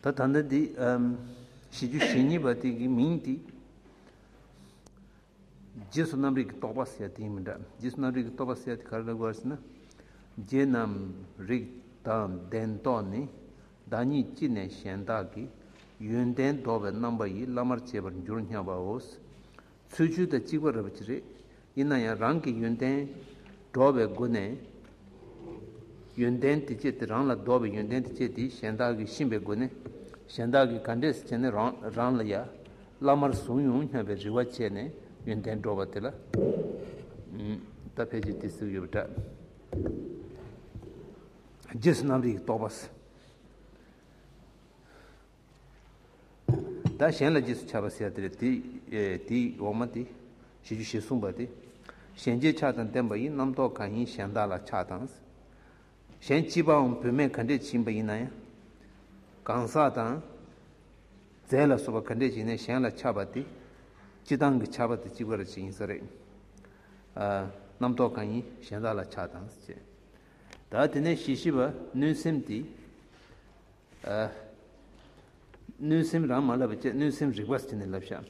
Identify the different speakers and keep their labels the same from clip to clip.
Speaker 1: ད་ད་ནི་དེ་ཞི་རྒྱུ་ཞི་གཉིས་པ་དེ་གི་མིང་དེ་རྗེས་སུ་རྣམ་རིག་གི་རྟོག་པ་ཟེར་དེ་མི་འདྲ་རྗེས་སུ་རྣམ་རིག་གི་རྟོག་པ་ཟེར་དེ་ག་རེ་ལ་གོ་བ་ཟེར་ན་རྗེས་རྣམ་རིག་དང་ལྡན་རྟོག་ནི་བདག་ཉིད་ཅི་ནས་གཞན་དག་གི་ཡོན་ཏན་བདོག་པའི་རྣམ་པ་ཡིས་བླ་མར་བྱེད་པར་འགྱུར་སྙམ་པའོ། ཚུལ་བཅུ་དང་གཅིག་པ་རབ་ཀྱི་རེ། ཡིན་ན་ཡང་རང་གི་ཡོན་ཏན་བདོག་པའི་སྒོ་ནས། ཡོན་ཏན་དེ་སྤྱད་དེ་རང་ལ་བདོག་པའི་ཡོན་ཏན་དེ་སྤྱད་དེ་གཞན་དག་གིས་གཤིན་པའི་སྒོ་ནས། གཞན་དག་གིས་ག་འདྲས་བྱས་ནས་རང་ལ་ཡ། བླ་མར་བཟུང་ཡོང་སྙམ་པའི་རེ་བ་བྱས་ནས་ཡོན་ཏན་བདོག་པ་དེ་ལ། ད་ཕལ་ཆེར་དེ་གཟུགས་ཡོད་པ་འདྲ། རྗེས་སུ་རྣམ་རིག་རྟོག་པ། བདག་གཞན་ལ་རྗེས་སུ་ཆགས་པ་ཟད་དེ། དེའི་འོག་མ་སྟེ། ཞེས་རྒྱུ་བཞིས་གསུངས་པ་སྟེ། གཞན་རྗེས་ཆགས་དང་ལྡན་པ་ཡི་རྣམ་རྟོག་གང་ཡིན་གཞན་དག་ལ་ཆགས་དང། གཞན་གཅིག་པའང་བུད་མེད་ག་འདྲས་བྱིན་པ་ཡིན་ན་ཡང། གང་ཟག་དང། རྫས་ལ་སོགས་པ་ག་འདྲས་བྱིན་ནས་གཞན་ལ་ཆགས་པ་སྟེ། སྤྱི་དང་གི་ཆགས་པ་དེ་གཅིག་པར་བྱེད་ཡིན་ས་རེད། རྣམ་རྟོག་གང་ཡིན་གཞན་དག་ལ་ཆགས་དང། དག་དེ་ནས་ཞི་ཞི་བ་གནོད་སེམས་དེ། གནོད་སེམས་རང་མ་བསླབ་པ་བཅས་གནོད་སེམས་རིག་པ་དེ་ནི་བསླབ་བྱ།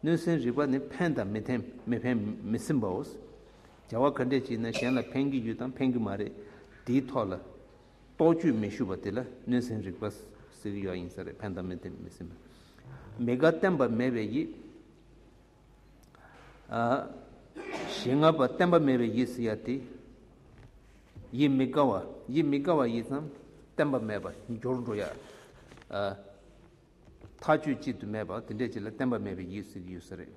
Speaker 1: གནོད་སེམས་རིག་པ་ནི་ཕན་དང་མི་ཐེམ་མི་ཕན་མི་སེམས་པའོ། བྱ་བ་ག་འདྲས་བྱས་ན་གཞན་ལ་ཕན་གྱི་ཡོད་དམ་ཕན་གྱི་མ་རེད་དེའི་ཐོག་ལ། རྟོག་དཔྱོད་མི་ཞུ་བ་དེ་ལ་གནོད་སེམས་རིག་པ་ཟེར་གྱི་ཡོད་ཡིན་ས་རེད་ཕན་དང་མི་ཐེམ་མི་སེམས་པ། མི་དགའ་བསྟན་པ་མེད་པའི་ཡིད། ཞེས་ལྔ་པ་བསྟན་པ་མེད་པའི་ཡིད་ཟེར་ཡ་དེ། ཡིད་མི་དགའ་བ་ཡིད་མི་དགའ་བ་ཡིད་ཙམ་བསྟན་པ་མེད་པ་སྦྱོར་འགྲོ་ཡ། མཐའ་དཔྱོད་གཅིག་ཏུ་མེད་པ་དེ་འདྲས་ཅིག་ལ་བསྟན་པ་མེད་པའི་ཡིད་ཟེར་ཡོད་ས་རེད།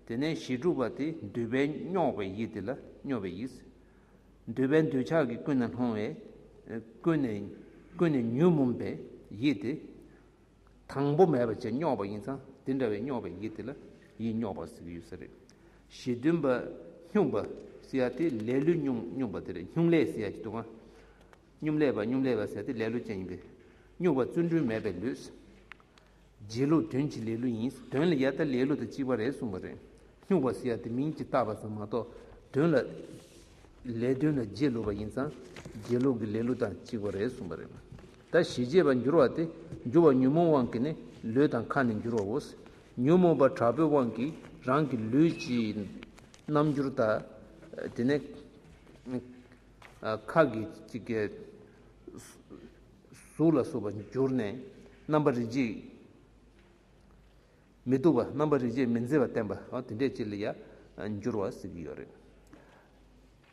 Speaker 1: དེ་ནས་ཞེ་དྲུག་པ་དེ་འདོད་པའི་རྙོག་པའི་ཡིད་དེ་ལ་རྙོག་པའི་ཡིད་ཟེར། འདོད་པའི་འདོད་ཆགས་ཀྱིས་ཀུན་ནས་སློང་བའི་ཀུན་ནས་ཉོན་མོངས་པའི་ཡིད་དེ། དང་པོ་མེད་པ་བཅས་རྙོག་པ་ཡིན་ཙང་དེ་འདྲ་བའི་རྙོག་པའི་ཡིད་དེ་ལ་ཡིད་རྙོག་པ་ཟེར་གྱི་ཡོད་ས་རེད། གཞི་མཐུན་པ། སྙུང་པ། ཟེར་ཡ་དེ་ལས་ལུས་སྙུང་སྙུང་པ་དེ་རེད་སྙུང་ལས་ཟེར་ཡ་ཅིག་འདུག་ཨང། སྙུམ་ལས་པ་སྙུམ་ལས་པ་ཟེར་ཡ་དེ་ལས་ལུས་ཅན་ཡིན་པས། སྙུག་པ་བརྩོན་འགྲུས་མེད་པའི་ལུས། རྗེས་ལུས་དོན་གྱི་ལས་ལུས་ཡིན་དོན་ལ་ཡ་ད་ལས་ལུས་དང་གཅིག་པ་རེད་གསུངས་པ་རེད། སྙུག་པ་ཟེར་ཡ་དེ་མིང་གིས་བཏགས་པ་ཙམ་མ་གཏོགས་དོན་ལ། ལས་དོན་ལ་རྗེས་ལུས་པ་ཡིན་ཙང་རྗེས་ལུས་ཀྱི་ལས་ལུས་དང་གཅིག་པ་རེད་གསུངས་པ་རེད། ད་ཞི་བྱེད་པར་འགྱུར་བ་སྟེ་འགྱུར་བ་ཉོན་མོངས་དབང་གིས་ནི་ལུས་དང་ཁ་ནི་འགྱུར་བའོ། ཉོན་མོངས་པ་དྲག་པོའི་དབང་གིས་རང་གི་ལུས་ཀྱི་རྣམ་འགྱུར་དག། དེ་ནས་ཁ་གི་གཟུགས་ལ་སོགས་པ་འགྱུར་ནས་རྣམ་པར་རིག་བྱེད་མི་སྡུག་པ་རྣམ་པར་རིག་བྱེད་མི་མཛེས་པ་བསྟན་པའོ་དེ་འདྲའི་ཕྱིར་ལ་ཡང་འགྱུར་བ་ཟེར་གྱི་ཡོད་རེད།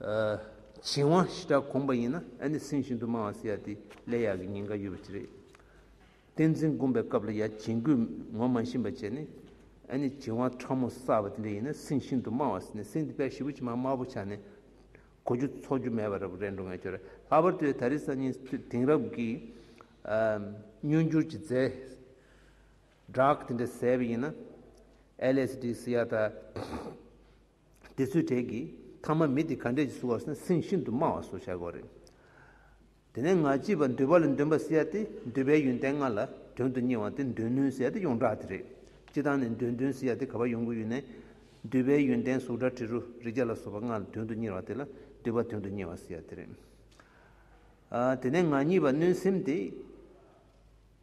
Speaker 1: བྱིན་དབང་ཞི་དྲག་གོང་པ་ཡིན་ན་ཨ་ནི་སེམས་ཤིན་ཏུ་མང་བ་སེ་ཡ་དེ་ལས་ཡག་གི་ཉིན་འགའ་ཡོད་པ་ཅི་རེད། བསྟན་འཛིན་དགོན་པའི་སྐབས་ལ་ཡ་བྱིན་རྒོད་ངོ་མ་བྱིན་པ་བྱས་ནས་ཨ་ནི་བྱིན་དབང་ཕྲ་མོ་བསགས་པ་དེ་འདྲ་ཡིན་ན་སེམས་ཤིན་ཏུ་མང་བ་སེ་ནས་སེམས་དེ་དཔལ་ཞི་བ་ཕྱི་མ་དམར་པོ་ཆགས་ནས་གོ་རྒྱུ་འཚོགས་རྒྱུ་མེད་པ་རེད་འགྲོ་ངེས་ཁྱོད་ར་ལྷག་པར་དུ་ད་རེས་སང་ཉིན་དེང་རབས་ཀྱི་སྨྱོན་འགྱུར་གྱི་རྫས་སྦྲགས་དེ་འདྲ་ཟེར་བ་ཡིན་ན་ཨེ་ལེས་དྲི་ཟེར་ཡག་ད། དེ་ཚོའི་གྲས་ཀྱི་ཐ་མ་མི་དེ་ག་འདྲས་ཀྱི་བཟོ་བ་སོན་སེང་ཤིན་ཏུ་དམའ་བ་བཟོ་བྱ་དགོས་རེད། དེ་ནས་ང་སྐྱིད་པ་འདོད་པ་ལས་འདོན་པ་ཟེར་ཡ་དེ་འདོད་པའི་ཡོན་ཏན་ལྔ་ལ་དོན་དུ་གཉེར་བ་དེ་འདོད་ནུས་ཟེར་ཡ་དེ་ཡོངས་གྲགས་དེ་རེད། སྤྱི་བཏང་ནས་འདོད་འདུན་ཟེར་ཡ་དེ་ག་པ་ཡོང་གི་ཡོད་ནས། འདོད་པའི་ཡོན་ཏན་གཟུགས་སྒྲ་དྲི་རོ་རེག་བྱ་ལ་སོགས་པ་ལྔ་ལ་དོན་དུ་གཉེར་བ་དེ་ལ་འདོད་པ་དོན་དུ་གཉེར་བ་ཟེར་ཡ་དེ་རེད། དེ་ནས་ང་གཉིས་པ་གནོད་སེམས་དེ།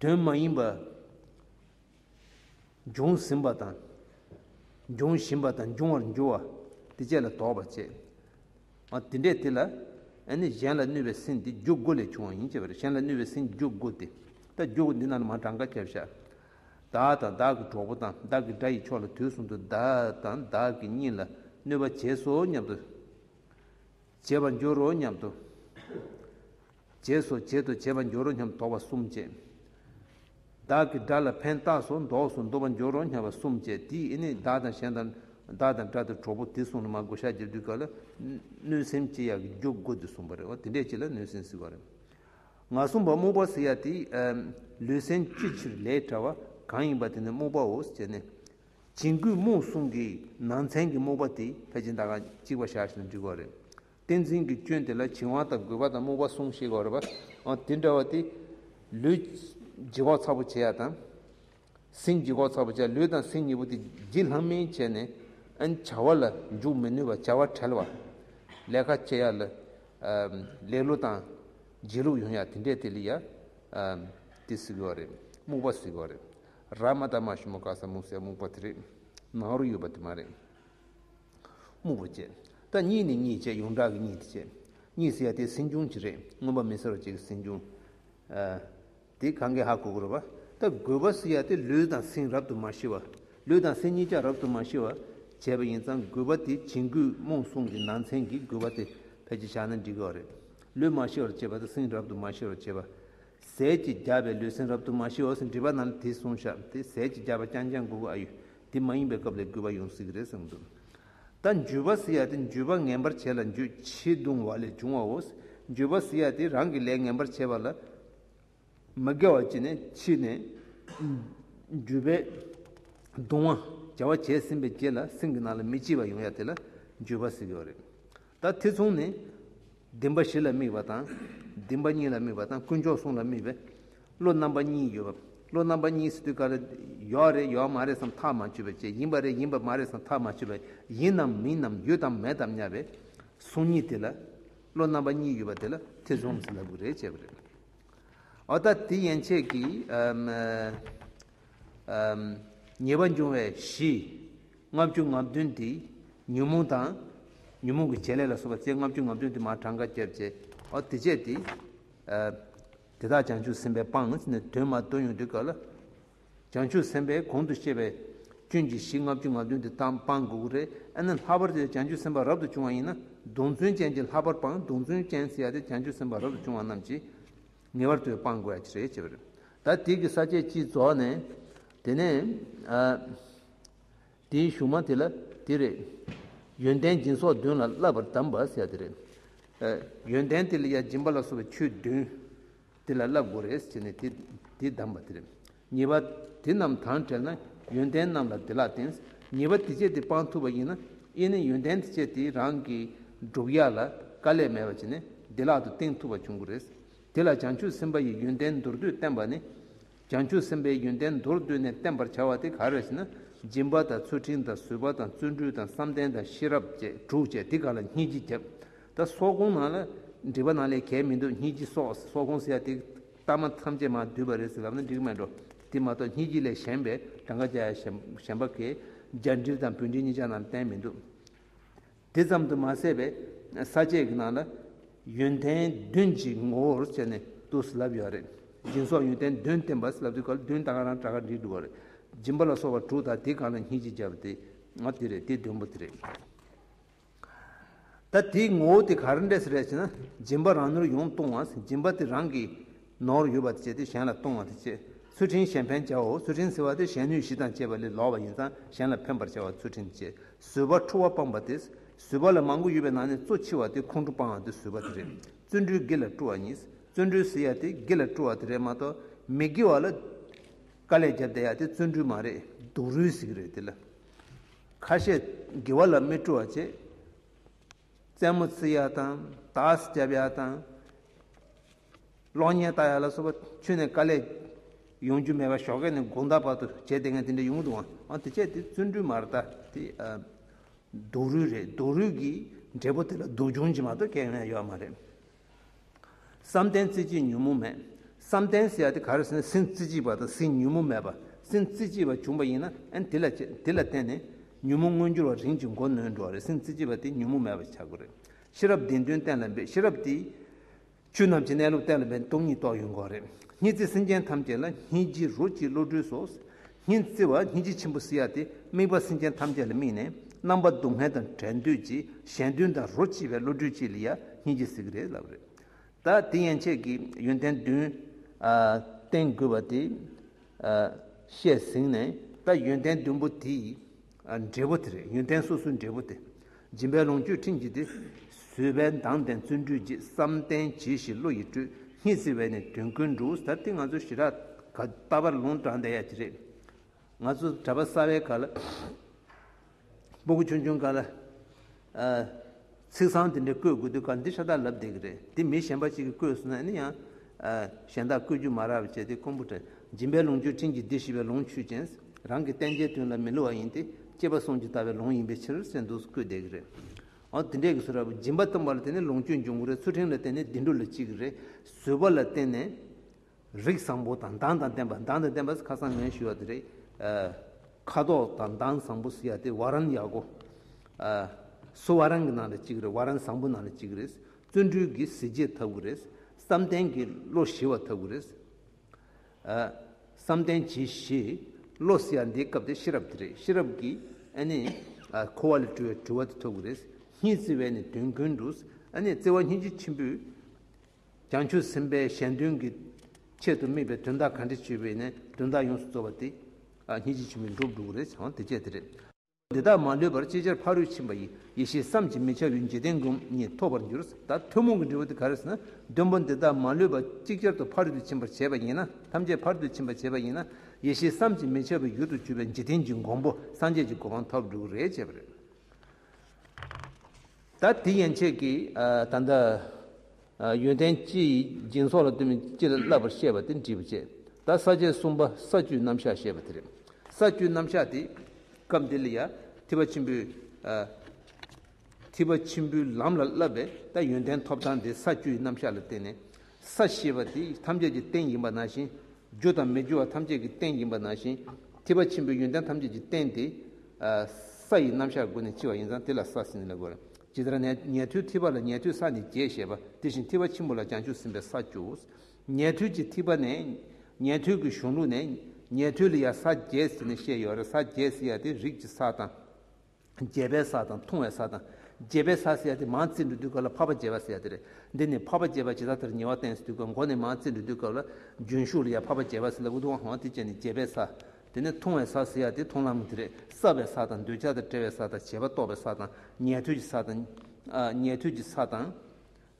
Speaker 1: དོན་མ་ཡིན་པ་འབྱུང་ཟིན་པ་དང། འབྱུང་བཞིན་པ་དང་འབྱུང་བར་འགྱུར་བ་དེ་བཅས་ལ་དོགས་པར་བྱེད། འོ་དེ་འདྲའི་དེ་ལ་ནི་གཞན་ལ་གནོད་པའི་སེམས་དེ་འཇུག་སྒོ་ལས་བྱུང་བ་ཡིན་ཅེས་པ་རེད་གཞན་ལ་གནོད་པའི་སེམས་འཇུག་སྒོ་དེ་ལྟར་འཇུག་སྒོ་འདི་རྣམས་ལ་མ་གྲངས་ཀ་བརྒྱ་བཞག། བདག་དང་བདག་གི་གྲོགས་པོ་དང་བདག་གི་དགྲ་ཡི་ཕྱོགས་ལ་དུས་གསུམ་དུ་བདག་དང་བདག་གི་གཉིས་ལ་གནོད་པ་བྱས་སོ་སྙམ་དུ་བྱེད་པར་འགྱུར་རོ་སྙམ་དུ་བྱས་སོ་བྱེད་དུ་བྱེད་པར་འགྱུར་རོ་སྙམ་དོགས་པ་གསུམ་བསྐྱེད། བདག་གི་དགྲ་ལ་ཕན་བཏགས་སོ་འདོགས་སུ་འདུ་བར་འགྱུར་རོ་སྙམ་པ་གསུམ་བསྐྱེད་དེ་ནི་བདག་དང་གཞན་དང་བདག་དང་དགྲ་དང་གྲོགས་པོ་དེ་གསུངས་ན་མ་དགོས་ཤཱཀྱ་དུས་སྐབས་ལ་གནོད་སེམས་སྐྱེ་ཡག་གི་འཇུག་སྒོ་འདི་གསུངས་པ་རེད་བ་དེ་འདྲས་ཀྱིས་ལ་གནོད་སེམས་བསིལ་བ་རེད། ང་གསུངས་པ་རྨུགས་པ་ཟེར་ཡག་དེ་ལུས་སེམས་ཅི་ཕྱིར་ལས་བྲལ་བ་གང་ཡིན་པ་དེ་ནི་རྨུགས་པའོ་ཟེར་ནས་བྱིང་རྒོད་རྨོངས་གསུམ་གྱི་ནང་ཚན་གྱི་རྨོངས་པ་དེ་ཕལ་ཆེན་དག་ཁ་ཅིག་བ་ཞག་ཞེས་འབྲི་དགོས་རེད། བསྟན་འཛིན་གྱི་སྐྱོན་དེ་ལ་བྱིང་བ་དང་རྒོད་པ་དང་རྨོངས་པ་གསུམ་ཞེས་དགོས་རེད་པ། དེ་འདྲ་བ་དེ། ལུས། ལྗིད་ཁོག་ཚ་པོ་བྱེད་ཡ་དང། སེམས་ལྗིད་ཁོག་ཚ་པོ་བྱེད་ཡ་ལུས་དང་སེམས་གཉིས་པོ་དེ་ལྗིད་ལྷང་མིན་བྱས་ནས། བྱ་བ་ལ་འཇུག་མི་ནུས་པ་བྱ་བ་བྲལ་བ། ལས་ཀ་བྱེད་ཡ་ལ། ལེ་ལོ་དང། བརྗེད་ལུགས་ཡོང་ཡ་དེ་འདྲས་དེ་ལ་ཡ། དེ་ཟེར་དགོས་རེད་རྨོངས་པ་ཟེར་དགོས་རེད། ར་མ་ཏཱ་མ་ཞུ་མ་ཀ་སཱ་སྨུག་སའི་སྨུག་པ་དེ་རེད། ནང་རུ་ཡོད་པ་དེ་མ་རེད། སྨུག་པོ་བཅས། ད་གཉིས་ནི་གཉིས་བཅས་ཡོངས་གྲགས་ཀྱི་གཉིས་དེ་བཅས། གཉིས་ཟེར་ཡ་དེ་སྲིང་ཆུང་གཅིག་རེད་མངོན་པ་མི་ཟེར་བ་གཅིག་གི་སྲིང་ཆུང། དེ་གང་གི་ཧ་གོ་དགོས་རེད་པ། ད་དགོས་པ་ཟེར་ཡ་དེ་ལུས་དང་སྲིང་རབ་ཏུ་མ་ཤི་བ། ལུས་དང་སྲིང་གཉིས་ཀྱང་རབ་ཏུ་མ་ཤི་བ། བྱས་པ་ཡིན་ཙང་དགོས་པ་དེ་བྱིང་རྒོད་རྨོངས་སྲུང་གི་ནང་ཚན་གྱི་དགོས་པ་དེ་ཕལ་ཆེར་བཞག་ན་འགྲིག་གི་བ་རེད། ལུས་མ་ཤི་བར་བྱས་པ་དང་སྲིང་རབ་ཏུ་མ་ཤི་བར་བྱས་པ། ཟས་ཀྱི་བརྒྱ་པའི་ལུས་སེམས་རབ་ཏུ་མ་ཞི་འོ་ཟེར་འདྲི་བ་རྣམས་དེ་གསུངས་ཤག་དེ་ཟས་ཀྱི་བརྒྱ་པ་རྐྱང་རྐྱང་དགུ་དགུ་ཨ་ཡུ་དེ་མ་ཡིན་པའི་སྐབས་ལས་དགུ་བ་ཡོང་སྲིད་ཀྱི་རེད་གསུངས་འདུག་ད་འཇུ་བ་ཟི་ཡ་དེ་འཇུ་བ་ངན་པར་བྱེད་ལ་འཇུ་བྱེད་བརྡུང་བ་ལས་བྱུང་བའོ་འཇུ་བ་ཟི་ཡ་དེ་རང་གི་ལས་ངན་པར་བྱེད་པ་ལ་མི་དགེ་བ་བྱེད་ནས་ཕྱིས་ནས་འཇུ་བས་བརྡུང་བ་བྱ་བ་བྱས་ཟིན་པའི་རྗེས་ལ་སེམས་ཀྱི་ནང་ལ་མི་སྐྱིད་པ་ཡོང་ཡ་དེ་ལ་འཇུ་བ་ཟི་ཡོ་རེད་ད་དེ་མཚུངས་ནས་བདེན་པ་བཞི་ལ་དམིགས་པ་དང། བདེན་པ་གཉིས་ལ་དམིགས་པ་དང་དཀོན་མཆོག་གསུམ་ལ་དམིགས་པའི། བློ་རྣམ་པ་གཉིས་ཡོད། བློ་རྣམ་པ་གཉིས་སི་ཏུ་ཀ་ར། ཡོད་རེད་ཡོད་མ་རེད་སམ་ཐག་མ་ཆོད་པའི་ཆེད་ཡིན་པ་རེད་ཡིན་པ་མ་རེད་སམ་ཐག་མ་ཆོད་པའི་ཡིན་ནམ་མིན་ནམ་ཡོད་དམ་མེད་དམ་སྙམ་པའི། གཟུངས་གཉིས་དེ་ལ། བློ་རྣམ་པ་གཉིས་ཡོད་པ་དེ་ལ་ཐེ་ཚོམ་ཟིན་ལབ་གི་རེད་བྱས་པ་རེད། འོ་ད་དེ་ཡན་ཆད་ཀྱིས། ཉེས་པ་འབྱུང་བའི་གཞི། ལྔ་བཅུ་ང་བདུན་ཏེ། ཉོན་མོངས་དང། ཉོན་མོངས་ཀྱི་བྱེད་ལས་ལ་སོགས་པ་རྩེ་ལྔ་བཅུ་ང་བདུན་ཏེ་མ་གྲངས་ཀ་བརྒྱད་བཅས་པའོ། དེ་སྤྱད་དེ། དེ་དག་བྱང་ཆུབ་སེམས་དཔའི་སྤང་ནི་དོན་མ་རྟོགས་ཡུན་དུ་འགགས་ལ། བྱང་ཆུབ་སེམས་དཔས་གོང་དུ་བཤད་པའི། སྐྱོན་གྱི་གཞི་ལྔ་བཅུ་ང་བདུན་ཏེ་དག་སྤང་དགོས་དགོས་རེ་ཨེ་ན། ལྷག་པར་དུ་བྱང་ཆུབ་སེམས་དཔའ་རབ་ཏུ་བྱུང་བ་ཡིན་ན་གདོན་བཙུན་ཅན་གྱིས་ལྷག་པར་སྤང་གདོན་བཙུན་ཅན་སེལ་ཡ་སྟེ་བྱང་ཆུབ་སེམས་དཔའ་རབ་ཏུ་བྱུང་བ་རྣམས་ཀྱིས། ངེས་པར་དུ་སྤང་དགོས་ཀྱི་རེད་ཅེས་པ་རེད། ད་དུས་ཀྱི་ས་བཅད་སྤྱི་རྫོགས་ནས། དེ་ནས། དེའི་གཞུང་མ་དེ་ལ་དེ་རེད། ཡོན་ཏན་སྦྱིན་སོགས་བདུན་ལ་བསླབ་པར་གདམས་པ་ཟེར་དེ་རེད། ཡོན་ཏན་དེ་ལ་ཡང་སྦྱིན་པ་ལ་སོགས་པའི་ཆོས་བདུན་དེ་ལ་བསླབ་དགོས་རེད་ཟེར་ནས་དེ་གདམས་པ་དེ་རེད། ཉེས་པ་དེ་རྣམས་དང་བྲལ་ན་ཡོན་ཏན་རྣམས་ལ་བདེ་བླག་བསྟེན། ཉེས་པ་དེ་སྤྱད་དེ་སྤང་ཐུབ་པ་ཡིན་ན་དབྱེ་ནས་ཡོན་ཏན་དེ་སྤྱད་དེ་རང་གི་འགྲུབ་ཡ་ལ་དཀའ་ལས་མེད་པར་བྱས་ནས་བདེ་བླག་ཏུ་བསྟེན་ཐུབ་པ་འབྱུང་གི་རེད། དེ་ལ་བྱང་ཆུབ་སེམས་དཔའ་ཡི་ཡོན་ཏན་མདོར་བསྡུས་བསྟན་པ་ནི། བྱང་ཆུབ་སེམས་དཔའི་ཡོན་ཏན་མདོར་བསྡུས་ནས་བསྟན་པར་བྱ་བ་དེ་ག་རེ་ཞེ་ན། སྦྱིན་པ་དང་ཚུལ་ཁྲིམས་དང་བཟོད་པ་དང་བརྩོན་འགྲུས་དང་བསམ་གཏན་དང་ཤེས་རབ་བཅས་དྲུག་བཅས་དེ་ག་ལ་སྙེད་ཀྱིས་ཁྱབ། ད་སོགས་ཁོང་ན་ལ་འདྲིས་པ་ན་ལས་གལ་མི་འདུག་སྙེད་ཀྱིས་སོགས་སོགས་ཁོང་ཟེར་ཡ་དེ། གཏམ་མ་ཐམས་ཅད་མ་བསྡུས་པ་རེད་ཟེར་ལབ་ན་འགྲིག་མེད་འགྲོ། དེ་མ་གཏོགས་སྙིགས་ལྗིད་ལས་གཞན་པའི་གྲངས་ཀ་བརྒྱ་ཡ་གཞན་པ་གས་རྒྱ་འགྲིལ་དང་བོད་འགྲིལ་གཉིས་ཆ་རྣམས་བསྟན་མི་འདུག། དེ་ཙམ་དུ་མ་ཟད་པའི་ས་བཅད་ཀྱི་ནང་ལ་ཡོན་ཏན་བདུན་གྱི་ངོ་བོར་བྱས་ནས་བསྡུ་ཟེར་ལབ་ཡོད་རེད། སྦྱིན་སོགས་ཡོན་ཏན་བདུན་བསྟན་པ་ཟེར་ལབ་དུས་སྐབས་བདུན་ལྟ་ག་རང་གྲགས་ཀ་འགྲིག་འདུག་རེད། སྦྱིན་པ་ལ་སོགས་པ་དྲུག་དང་དེ་གང་ལ་སྙིགས་ལྗིད་བརྒྱབ་པ་དེ། ཨ་དེ་རེད་དེ་བདུན་པོ་དེ་རེད། ད་དེའི་ངོ་བོ་དེ་ག་རེ་འདྲས་སུ་རེད་ཅེ་ན། སྦྱིན་པ་རང་ནུར་ཡོང་གཏོང་བ་སྦྱིན་པ་དེ་རང་གི་ནོར་ཡོད་པ་དེ་བྱས་ཏེ་གཞན་ལ་གཏོང་བ་དེ་བྱེད་ཚུལ་ཕྲིན་གཞན་ཕན་བྱའོ་ཚུལ་ཕྲིན་ཟེར་བ་དེ་གཞན་ནུས་བཞི་དང་བཅས་པ་ལས་ལོག་པ་ཡིན་ཙང་གཞན་ལ་ཕན་པར་བྱ་བ་ཚུལ་ཕྲིན་བཅས་བཟོད་པ་འཁྲུ་བ་སྤངས་པ་དེ་བཟོད་པ་ལ་མང་པོ་ཡོད་པའི་ནང་ནས་གཙོ་ཆེ་བ་དེ་ཁོང་ཁྲོ་སྤང་བ་དེ་བཟོད་པ་དེ་རེད་བརྩོན་འགྲུས་དགེ་ལ་བཀྲུ་བ་གཉིས་བརྩོན་འགྲུས་ཟེར་ཡ་དེ་དགེ་ལ་བཀྲུ་བ་དེ་རེད་མ་གཏོགས་མི་དགེ་བ་ལ་དཀའ་ལས་བརྒྱབ་བསྡད་ཡ་དེ་བརྩོན་འགྲུས་མ་རེད་སྡུག་རུས་ཟིག་རེད་དེ་ལ། ཁ་བཤད་དགེ་བ་ལ་སྨིན་བཀྲུ་བ་བྱེད། རྩེད་མོ་རྩི་ཡ་དང་དྭགས་སྐྱབས་ཡ་དང། གློག་བརྙན་ལྟ་ཡ་ལ་སོགས་པ་ཆུ་ནས་དཀའ་ལས། ཡོང་རྒྱུ་མེད་པ་ཞོགས་ཀ་ནས་དགུང་ཟླ་བར་དུ་བྱས་དེ་སྔ་དེ་འདྲ་ཡོང་འདུག་ཨང་དེ་བྱས་དེ་བརྩོན་འགྲུས་མར་ལྟ་དེ། སྡུག་རུས་རེད་སྡུག་རུས་ཀྱི་འབྲས་བུ་དེ་ལ་སྡུག་སྦྱོང་བྱེད་མ་གཏོགས་སྐྱེ་ཡོང་ཡ་ཡོད་མ་རེད། བསམ་གཏན་རྩེ་གཅིག་ཉོན་མོངས་མེད། བསམ་གཏན་ཟེར་དེ་ག་རེ་ཟེར་ན་སེམས་རྩེ་གཅིག་པ་དང་སེམས་ཉོན་མོངས་མེད་པ་སེམས་རྩེ་གཅིག་པ་བྱུང་བ་ཡིན་ན་ཨན་དེ་ལ་དེ་ལ་བརྟེན་ནས་ཉོན་མོངས་མངོན་འགྱུར་བ་རིན་གྱིས་མགོ་གནོན་འགྲོ་བ་རེད་སེམས་རྩེ་གཅིག་པ་དེ་ཉོན་མོངས་མེད་པ་ཆགས་དགོས་རེད། ཤེས་རབ་བདེན་དོན་གཏན་ལ་འབེབས་ཤེས་རབ་དེས། ཆོས་རྣམས་ཀྱི་གནས་ལུགས་གཏན་ལ་འབེབས་སྟོང་ཉིད་རྟོགས་ཡོད་དགོས་རེད། གཉིས་རྩེ་སེམས་ཅན་ཐམས་ཅད་ལ་སྙིང་རྗེ་རོ་གཅིག་བློ་གྲོས་སོགས་སྙིང་བརྩེ་བ་སྙིང་རྗེ་ཆེན་པོ་བསིལ་བ་དེ་དམིགས་པ་སེམས་ཅན་ཐམས་ཅད་ལ་དམིགས་ནས་རྣམ་པ་སྡུག་བསྔལ་དང་བྲལ་འདོད་ཀྱི་གཞན་དོན་དང་རོ་གཅིག་པའི་བློ་གྲོས་གཅིག་ལ་ཡང་སྙིང་རྗེ་ཟེར་གྱི་རེད་ལབ་རེད། ད་དེ་ཡན་ཆད་ཀྱི་ཡོན་ཏན་བདུན། བསྟེན་དགོས་པ་དེ། བཤད་ཟིན་ནས་ད་ཡོན་ཏན་བདུན་པོ་དེ། འབྲས་བུ་དེ་རེད་ཡོན་ཏན་སོ་སོའི་འབྲས་བུ་དེ། སྦྱིན་པའི་ལོངས་སྤྱོད་ཕྲིན་གྱིས་ཏེ། བཟོད་པའི་མདངས་ལྡན་བརྩོན་འགྲུས་རྗེས་བསམ་གཏན་གྱིས་ཤིག་བློ་ཡིས་སྤྲུལ། སྙིང་བརྩེ་བས་ནི་དོན་ཀུན་འགྲུབ་ཟེར་དེ་ང་ཚོའི་ཞི་རགས་ག། ལྟ་བར་ལུང་དྲངས་བསྡད་ཡ་གྱི་རེད། ང་ཚོ་གྲྭ་པ་གསར་བའི་ག་ལ། སྤོ་གི་ཆུང་ཆུང་ག་ལ། ཚིག་བཟང་དེ་འདྲའི་བཀོད་དགོས་དུས་སྐབས་འདིར་ཤ་སྟག་ལབ་བསྡད་ཀྱི་རེད་དེ་མི་གཞན་པ་གཅིག་གིས་བཀོད་སོང་ན་ཡང་གཞན་དག་བཀོད་རྒྱུ་མ་རག་བས་བྱས་ཏེ་ཀོང་པོ་བྲན་སྦྱིན་པའི་ལུང་ཆོས་ཕྲིན་གྱི་སྡེ་བཞི་བའི་ལུང་ཆོས་ཅན་རང་གི་བསྟན་བྱའི་དོན་ལ་མི་བསླུ་བ་ཡིན་ཏེ་སྐྱེས་པ་སོང་ཇི་ལྟ་བའི་ལུང་ཡིན་པའི་ཕྱིར་གསེར་མདོག་སུ་བཀོད་བསྡད་ཀྱི་རེད་འོ་དེ་འདྲས་ཀྱི་ཟུར་ར་བའི་སྦྱིན་པ་སྟོན་པ་ལ་བརྟེན་ནས་ལུང་ཆོས་འབྱུང་གི་རེད་ཚུལ་ཁྲིམས་ལ་བརྟེན་ནས་བདེ་འགྲོ་ལ་སྐྱེ་གི་རེད་བཟོད་པ་ལ་བརྟེན་ནས་རིགས་བཟང་པོ་དང་མདངས་དང་ལྡན་པ་མདངས་དང་ལྡན་པ་ཁ་སང་ངས་ཞུས་བ་དེ་རེད། ཁ་དོག་དང་མདངས་བཟང་པོ་ཟེར་ཡ་དེ་བ་རན་ཡག་གོ། སུ་བ་རན་གྱི་ནང་ལས་གཅིག་རེད་བ་རན་བཟང་པོའི་ནང་ལས་གཅིག་རེད། བརྩོན་འགྲུས་ཀྱི་གཟི་བརྗིད་འཐབ་དགོས་རེད། བསམ་གཏན་གྱི་བློ་ཞི་བ་འཐབ་དགོས་རེད། བསམ་གཏན་གྱི་ཞི། བློ་ཟེར་ཡ་འདིའི་སྐབས་དེ་ཤེས་རབ་དེ་རེད་ཤེས་རབ་ཀྱི་ཨ་ནི། འཁོར་བ་ལས་གྲོལ་བའི་གྲོལ་བ་དེ་འཐོབ་དགོས་རེད། གཉིས་བརྩེ་བས་ནི་དོན་ཀུན་འགྲུབ། ཨ་ནི་བརྩེ་བ་སྙིང་རྗེ་ཆེན་པོས། བྱང་ཆུབ་སེམས་དཔའི་གཞན་དོན་གྱི་ཆེད་དུ་དམིགས་པའི་དོན་དག་གང་དྲི་བྱས་པས་ནི་དོན་དག་ཡོངས་སུ་རྫོགས་པ་དེ། གཉིས་ཀྱིས་ཕྱིན་པའི་འགྲོ་དྲུག་རེ་བྱང་བ་དེ་སྤྱད་དེ་རེ། འདི་དག་མ་ལུས་པར་ཅིག་ཅར་ཕ་རོལ་ཕྱིན་པ་ཡི་ཡེ་ཤེས་བསམ་གྱིས་མི་ཁྱབ་པའི་འཇིག་རྟེན་སྒོམ་ཉིད་ཐོབ་པར་འགྱུར་ད་ཐུན་མོང་གི་འབྲས་བུ་དེ་ག་རེ་ཟེར་ན་བདུན་པོ་འདི་དག་མ་ལུས་པ་ཅིག་ཅར་དུ་ཕ་རོལ་ཏུ་ཕྱིན་པར་བྱེད་པ་ཡིན་ན་ཐམས་ཅད་ཕ་རོལ་ཏུ་ཕྱིན་པར་བྱེད་པ་ཡིན་ན་ཡེ་ཤེས་བསམ་གྱིས་མི་ཁྱབ་པའི་རྒྱུར་དུ་གྱུར་པའི་འཇིག་རྟེན་གྱི་འགོང་པོ་སངས་རྒྱས་ཀྱི་གོ་འཕང་ཐོབ་དྲུག་རེ་སྤྱད་པ་རེ། ད་དེ་ཡན་ཆད་ཀྱི་ད་ལྟ། ཡོན་ཏན་ཅི་ཡི་སྦྱིན་སོགས་ལ་ལྟོས་མེད་ཅི་ལ་བསླབ་པར་བཤད་པ་དེ་འདྲིས་པ་བཅས་ད་ས་བཅད་གསུམ་པ་ས་བཅུའི་རྣམ་གཞག་བཤད་པ་དེ་རེད། ས་བཅུའི་རྣམ་གཞག་དེ་སྐབས་འདི་ལ་ཡང་ཐིགས་པ་ཆེན་པོའི། ཐིགས་པ་ཆེན་པོའི་ལམ་ལ་བསླབ་པས་ད་ཡོན་ཏན་ཐོབ་ཐང་དེ་ས་བཅུའི་རྣམ་གཞག་ལ་བརྟེན་ནས་ས་ཞེས་པ་དེ་ཐམས་ཅད་ཀྱི་རྟེན་ཡིན་པ་ན་བཞིན། རྒྱུ་དང་མི་རྒྱུ་བ་ཐམས་ཅད་ཀྱི་རྟེན་ཡིན་པ་ན་བཞིན། ཐིབས་པ་ཆེན་པོའི་ཡོན་ཏན་ཐམས་ཅད་ཀྱི་རྟེན་དེ། ས་ཡི་རྣམ་གཞག་དགུ་ནི་ལྕི་བ་ཡིན་ཙང་དེ་ལ་ས་སྲིན་ལ་གོལ། ཇི་ལྟར་ན་ཉལ་ཐུལ་ཐིབས་པ་ལ་ཉལ་ཐུལ་ས་ནི་བརྒྱད་ཞེས་པ་དེ་བཞིན་ཐིབས་པ་ཆེན་པོ་ལ་ཀྱང་ཆུ་སྲིན་པའི་ས་བཅུ། ཉལ་ཐུལ་གྱི་ཐིབས་པ་ནས། ཉལ་ཐུལ་གྱི་གཞུང་ལུགས་ནས། ཉལ་ཐུལ་ལ་ཡང་ས་བརྒྱད་ཟེར་ནས་བཤད་ཡོད་རེད་ས་བརྒྱད་ཟེར་ཡ་དེ་རིགས་ཀྱི་ས་དང། རྒྱས་པའི་ས་དང་ཐུང་བའི་ས་དང། རྒྱས་པའི་ས་ཟེར་ཡ་དེ་མང་ཙིར་འབྲུ་དུད་ཀ་ལ་འཕགས་པ་རྒྱས་པ་ཟེར་ཡ་དེ་རེད། འདི་ནི་འཕགས་པ་རྒྱས་པ་ཇི་ལྟར་དེར་ཉེ་བ་བསྟན་ཟིན་འདུག་པ་མགོ་ནས་མང་ཙིར་འབྲུ་དུད་ཀ་ལ། རྒྱུན་ཞུགས་ལ་ཡང་འཕགས་པ་རྒྱས་པ་ཟེར་ལ་འུ་ཐུག་ཧང་དེ་བཅས་ནི་རྒྱས་པའི་ས། དེ་ནས་ཐུང་བའི་ས་ཟེར་ཡ་དེ་མཐོང་ལམ་དེ་རེད་སྲབ་པའི་ས་དང་འདོད་ཆགས་དང་བྲལ་བའི་ས་དང་བྱེད་པ་རྟོགས་པའི་ས་དང་ཉལ་ཐུལ་གྱི་ས་དང། ཉལ་ཐུལ་གྱི་ས་དང།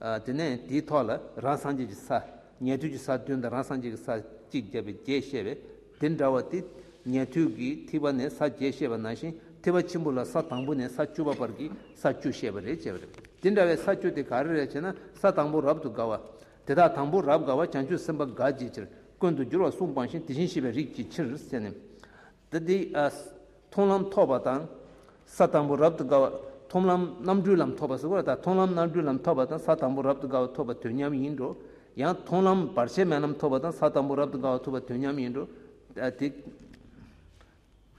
Speaker 1: དེ་ནས་དེའི་ཐོག་ལ་རང་སངས་རྒྱས་ཀྱི་ས། ཉལ་ཐུལ་གྱི་ས་བདུན་དང་རང་སངས་རྒྱས་ཀྱི་ས་གཅིག་བརྒྱ་པའི་བརྒྱད་བཤད་པས་དེ་འདྲ་བ་དེ། ཉལ་ཐུལ་གྱི་ཐིགས་པ་ནས་ས་བརྒྱད་བཤད་པ་ནང་བཞིན་ཐིགས་པ་ཆེན་པོ་ལ་ས་དང་པོ་ནས་ས་བཅུ་པ་བར་གྱི་ས་བཅུ་བཤད་པ་རེད་ཅེས་པ་རེད། དེ་འདྲ་བའི་ས་བཅུ་དེ་ག་རེ་རེད་ཅེ་ན་ས་དང་པོ་རབ་ཏུ་དགའ་བ། དེ་དག་དང་པོ་རབ་དགའ་བ་བྱང་ཆུབ་སེམས་དཔའ་དགའ་བྱེད་ཕྱིར་ཀུན་དུ་སྦྱོར་བ་གསུང་སྤངས་ཤིང་དེ་བཞིན་གཤེགས་པའི་རིགས་ཀྱི་ཕྱིར་སེམས། ཏི་ཏི་ཨཱས། མཐོང་ལམ་ཐོབ་པ་དང། ས་དང་པོ་རབ་ཏུ་དགའ་བ། མཐོང་ལམ་རྣམ་གྲོལ་ལམ་ཐོབ་པ་སོགས་དང་མཐོང་ལམ་རྣམ་གྲོལ་ལམ་ཐོབ་པ་དང་ས་དང་པོ་རབ་ཏུ་དགའ་བ་ཐོབ་པ་དུས་མཉམ་ཡིན་འགྲོ། ཡང་མཐོང་ལམ་བར་ཆད་མེད་ལམ་ཐོབ་པ་དང་ས་དང་པོ་རབ་ཏུ་དགའ་བ་ཐོབ་པ་དུས་མཉམ་ཡིན་འགྲོ། ཏི་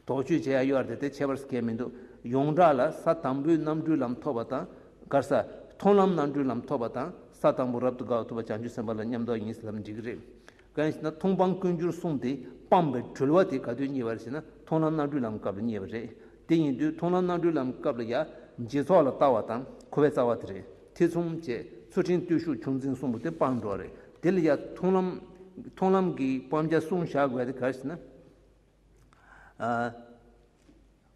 Speaker 1: དོགས་གཅོད་བྱེད་ཡ་ཡོ་ཨར་ཏི་ཏས་ཁྱད་པར་སེ་ཁས་མི་འདུག་ཡོངས་གྲགས་ལ་ས་དང་པོའི་རྣམ་གྲོལ་ལམ་ཐོབ་པ་དང་དགར་ས། མཐོང་ལམ་རྣམ་གྲོལ་ལམ་ཐོབ་པ་དང་ས་དང་པོ་རབ་ཏུ་དགའ་བ་ཐོབ་པ་བྱང་ཆུབ་སེམས་དཔའ་ལ་ཉམས་རྟོགས་ཡིན་སེམས་འགྲིག་གི་རེད། གང་ཞེ་ན་མཐོང་སྤང་ཀུན་འགྱུར་གསུངས་ཏེ་སྤངས་པའི་གྲོལ་བ་དེ་ག་དུས་རྙེད་པར་ཞེ་ན་མཐོང་ལམ་རྣམ་གྲོལ་ལམ་སྐབས་ལ་རྙེད་པ་རེད། དེ་ཡིན་དུས་མཐོང་ལམ་རྣམ་གྲོལ་ལམ་སྐབས་ལ་ཡང་རྗེས་ཚོགས་ལ་ལྟ་བ་དང་འཁོར་བའི་རྩ་བ་དེ་རེད་ཐེ་ཚོམ་བཅས་ཚུལ་ཁྲིམས་བརྟུལ་ཞུགས་ཆུང་འཛིན་གསུམ་པོ་དེ་སྤངས་འགྲོ་བ་རེད་དེ་ལ་ཡང་མཐོང་ལམ་མཐོང་ལམ་གྱི་སྤང་བྱ་གསུམ་བཞག་དགོས་དེ་ག་ཞེ་ན།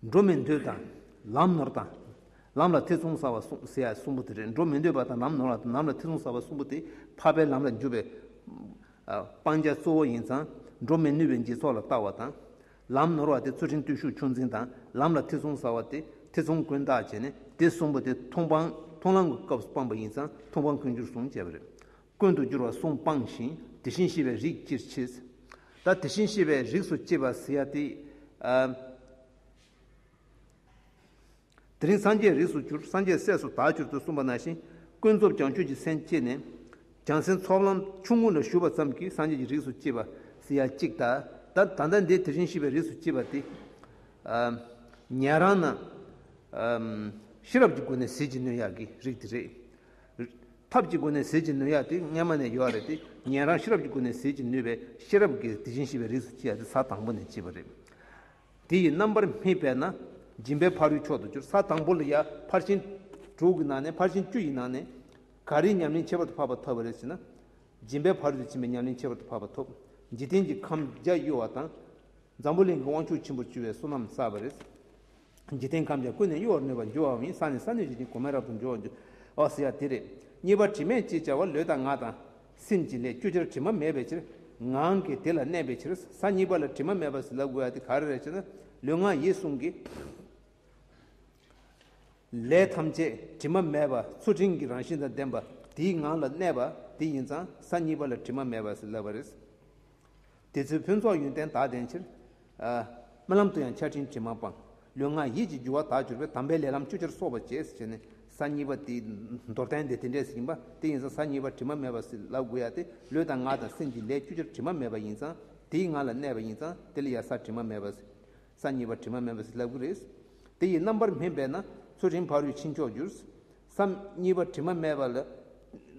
Speaker 1: འགྲོ་མི་འདོད་དང། ལམ་ནོར་དང། ལམ་ལ་ཐེ་ཚོམ་ཟ་བ་གསུམ་པོ་དེ་རེད། འགྲོ་མི་འདོད་པ་དང་ལམ་ནོར་བ་དང་ལམ་ལ་ཐེ་ཚོམ་ཟ་བ་གསུམ་པོ་དེ་འཕགས་པའི་ལམ་ལ་འཇུག་པའི་སྤང་བྱ་གཙོ་བོ་ཡིན་ཙང་འགྲོ་མི་ནུས་པའི་འཇིག་ཚོགས་ལ་ལྟ་བ་དང། ལམ་ནོར་བ་དེ་རྩོལ་ཕྲེང་བརྟུལ་ཞུགས་ཆུང་འཛིན་དང་ལམ་ལ་ཐེ་ཚོམ་ཟ་བ་དེ་ཐེ་ཚོམ་ཀུན་བཏགས་བྱས་ནས་དེ་གསུམ་པོ་དེ་མཐོང་ལམ་གྱི་སྐབས་སུ་སྤངས་པ་ཡིན་ཙང་མཐོང་སྤང་ཀུན་སྦྱོར་གསུམ་བྱས་པ་རེད། ཀུན་དུ་འགྱུར་བ་གསུམ་སྤངས་ཤིང་དེ་བཞིན་གཤེགས་པའི་རིགས་ཅིར་མཆིས། ད་དེ་བཞིན་གཤེགས་པའི་རིགས་སུ་སྐྱེས་པ་ཟེར་ཡ་དེ། དེ་རིང་སངས་རྒྱས་རིགས་སུ་གྱུར་སངས་རྒྱས་སྲས་སུ་དག་གྱུར་ཏོ་གསུངས་པ་ན་བཞིན་ཀུན་རྫོབ་བྱང་ཆུབ་ཀྱི་མཚན་བསྐྱེད་ནས། བྱང་སེམས་ཚོགས་ལམ་ཆུང་ངུ་ལ་ཞུགས་པ་ཙམ་གྱིས་སངས་རྒྱས་ཀྱི་རིགས་སུ་སྐྱེས་པ་ཟེར་ཡ་གཅིག་ད་ད་ད་ལྟ་འདི་དེ་བཞིན་གཤེགས་པའི་རིགས་སུ་སྐྱེས་པ་དེ། ཉན་རང་ན། ཤེས་རབ་ཀྱི་སྒོ་ནས་ཟིལ་གྱིས་གནོན་ཡག་གི་རིགས་དེ་རེད། ཐབས་ཀྱི་སྒོ་ནས་ཟིལ་གྱིས་ནོན་ཡ་དེ་སྔ་མ་ནས་ཡོད་རེད་དེ་ཉན་རང་ཤེས་རབ་ཀྱི་སྒོ་ནས་ཟིལ་གྱིས་ནུས་པའི་ཤེས་རབ་ཀྱིས་དེ་བཞིན་གཤེགས་པའི་རིགས་སུ་སྐྱེ་ཡ་དེ་ས་དང་པོ་ནས་སྐྱེས་པ་རེད། དེ་ཡི་རྣམ་པར་སྨིན་པས་ན་སྦྱིན་པའི་ཕ་རོལ་མཆོག་ཏུ་གྱུར་ས་དང་པོ་ལ་ཡ་ཕར་ཕྱིན་དྲུག་གི་ནང་ནས་ཕར་ཕྱིན་བཅུ་ཡི་ནང་ནས་ག་རེའི་ཉམས་ལེན་ཁྱད་པར་དུ་འཕགས་པ་ཐོབ་པ་རེད་ཟེར་ན། སྦྱིན་པའི་ཕ་རོལ་ཏུ་ཕྱིན་པའི་ཉམས་ལེན་ཁྱད་པར་དུ་འཕགས་པ་ཐོབ་འཇིག་རྟེན་གྱི་ཁམས་རྒྱ་གཡོ་བ་དང། འཛམ་བུ་གླིང་གི་དབང་ཕྱུག་ཆེན་པོར་གྱུར་བའི་བསོད་ནམས་བསགས་པ་རེད། འཇིག་རྟེན་ཁམས་ཀྱང་ཀུན་ནས་གཡོ་བར་ནུས་པར་འགྱུར་བའོ་མིན་ས་ནི་ས་ནུས་ཀྱི་རྒྱུན་གོང་མའི་རབ་ཏུ་འབྱུང་བར་འགྱུར། འོ་ཟེར་བ་དེ་རེད། གཉིས་པ་དྲི་མེད་ཅེས་བྱ་བ་ལུས་དང་ངག་དང། སེམས་ཀྱི་ལས་བཅུ་ཆར་དྲི་མ་མེད་པའི་ཕྱིར། ངང་གིས་དེ་ལ་གནས་པའི་ཕྱིར། ས་གཉིས་པ་ལ་དྲི་མ་མེད་པར་ཟིན་ལ་དགོས་པ་དེ་ག་རེ་རེད་ཅེ་ན། ལུས་ངག་ཡིད་གསུམ་གྱི། ལས་ཐམས་ཅད་དྲི་མ་མེད་པ་ཆུ་སྤྲིན་གྱི་རང་བཞིན་དང་ལྡན་པ་དེའི་ངང་ལ་གནས་པ་དེ་ཡིན་ཙང་ས་གཉིས་པ་ལ་དྲི་མ་མེད་པར་ཟིན་ལ་བ་རེད། དེ་ཚེ་ཕུན་ཚོགས་ཡོན་ཏན་དག་ལྡན་ཕྱིར། རྨི་ལམ་དུ་ཡང་ཆར་སྤྲིན་དྲི་མ་སྤངས། ལུས་ངག་ཡིད་ཀྱི་རྒྱུ་བ་དག་གྱུར་པས་དམ་པའི་ལས་ལམ་བཅུ་ཆར་སོགས་པ་བཅས་སུ་བྱས་ནས་ས་གཉིས་པ་དེ། མདོར་བསྟན་དེ་དེ་འདྲའི་ཟིན་པ་དེ་ཡིན་ཙང་ས་གཉིས་པ་དྲི་མ་མེད་པར་སྲིད་ལ་དགུ་ཡ་སྟེ་ལུས་དང་ངག་དང་སེམས་ཀྱི་ལས་བཅུ་ཆར་དྲི་མ་མེད་པ་ཡིན་ཙང་དེའི་ངང་ལ་གནས་པ་ཡིན་ཙང་དེ་ལ་ཡང་ས་དྲི་མ་མེད་པར་སྲིད། ས་གཉིས་པ་དྲི་མ་མེད་པར་སྲིད་ལ་དགུ་རེད། དེ་ཡི་རྣམ་པར་སྨིན་པས་ན་ཚུལ་ཁྲིམས་ཕ་རོལ་ཕྱིན་མཆོག་འགྱུར། སམ། གཉིས་པ་དྲི་མ་མེད་པ་ལ་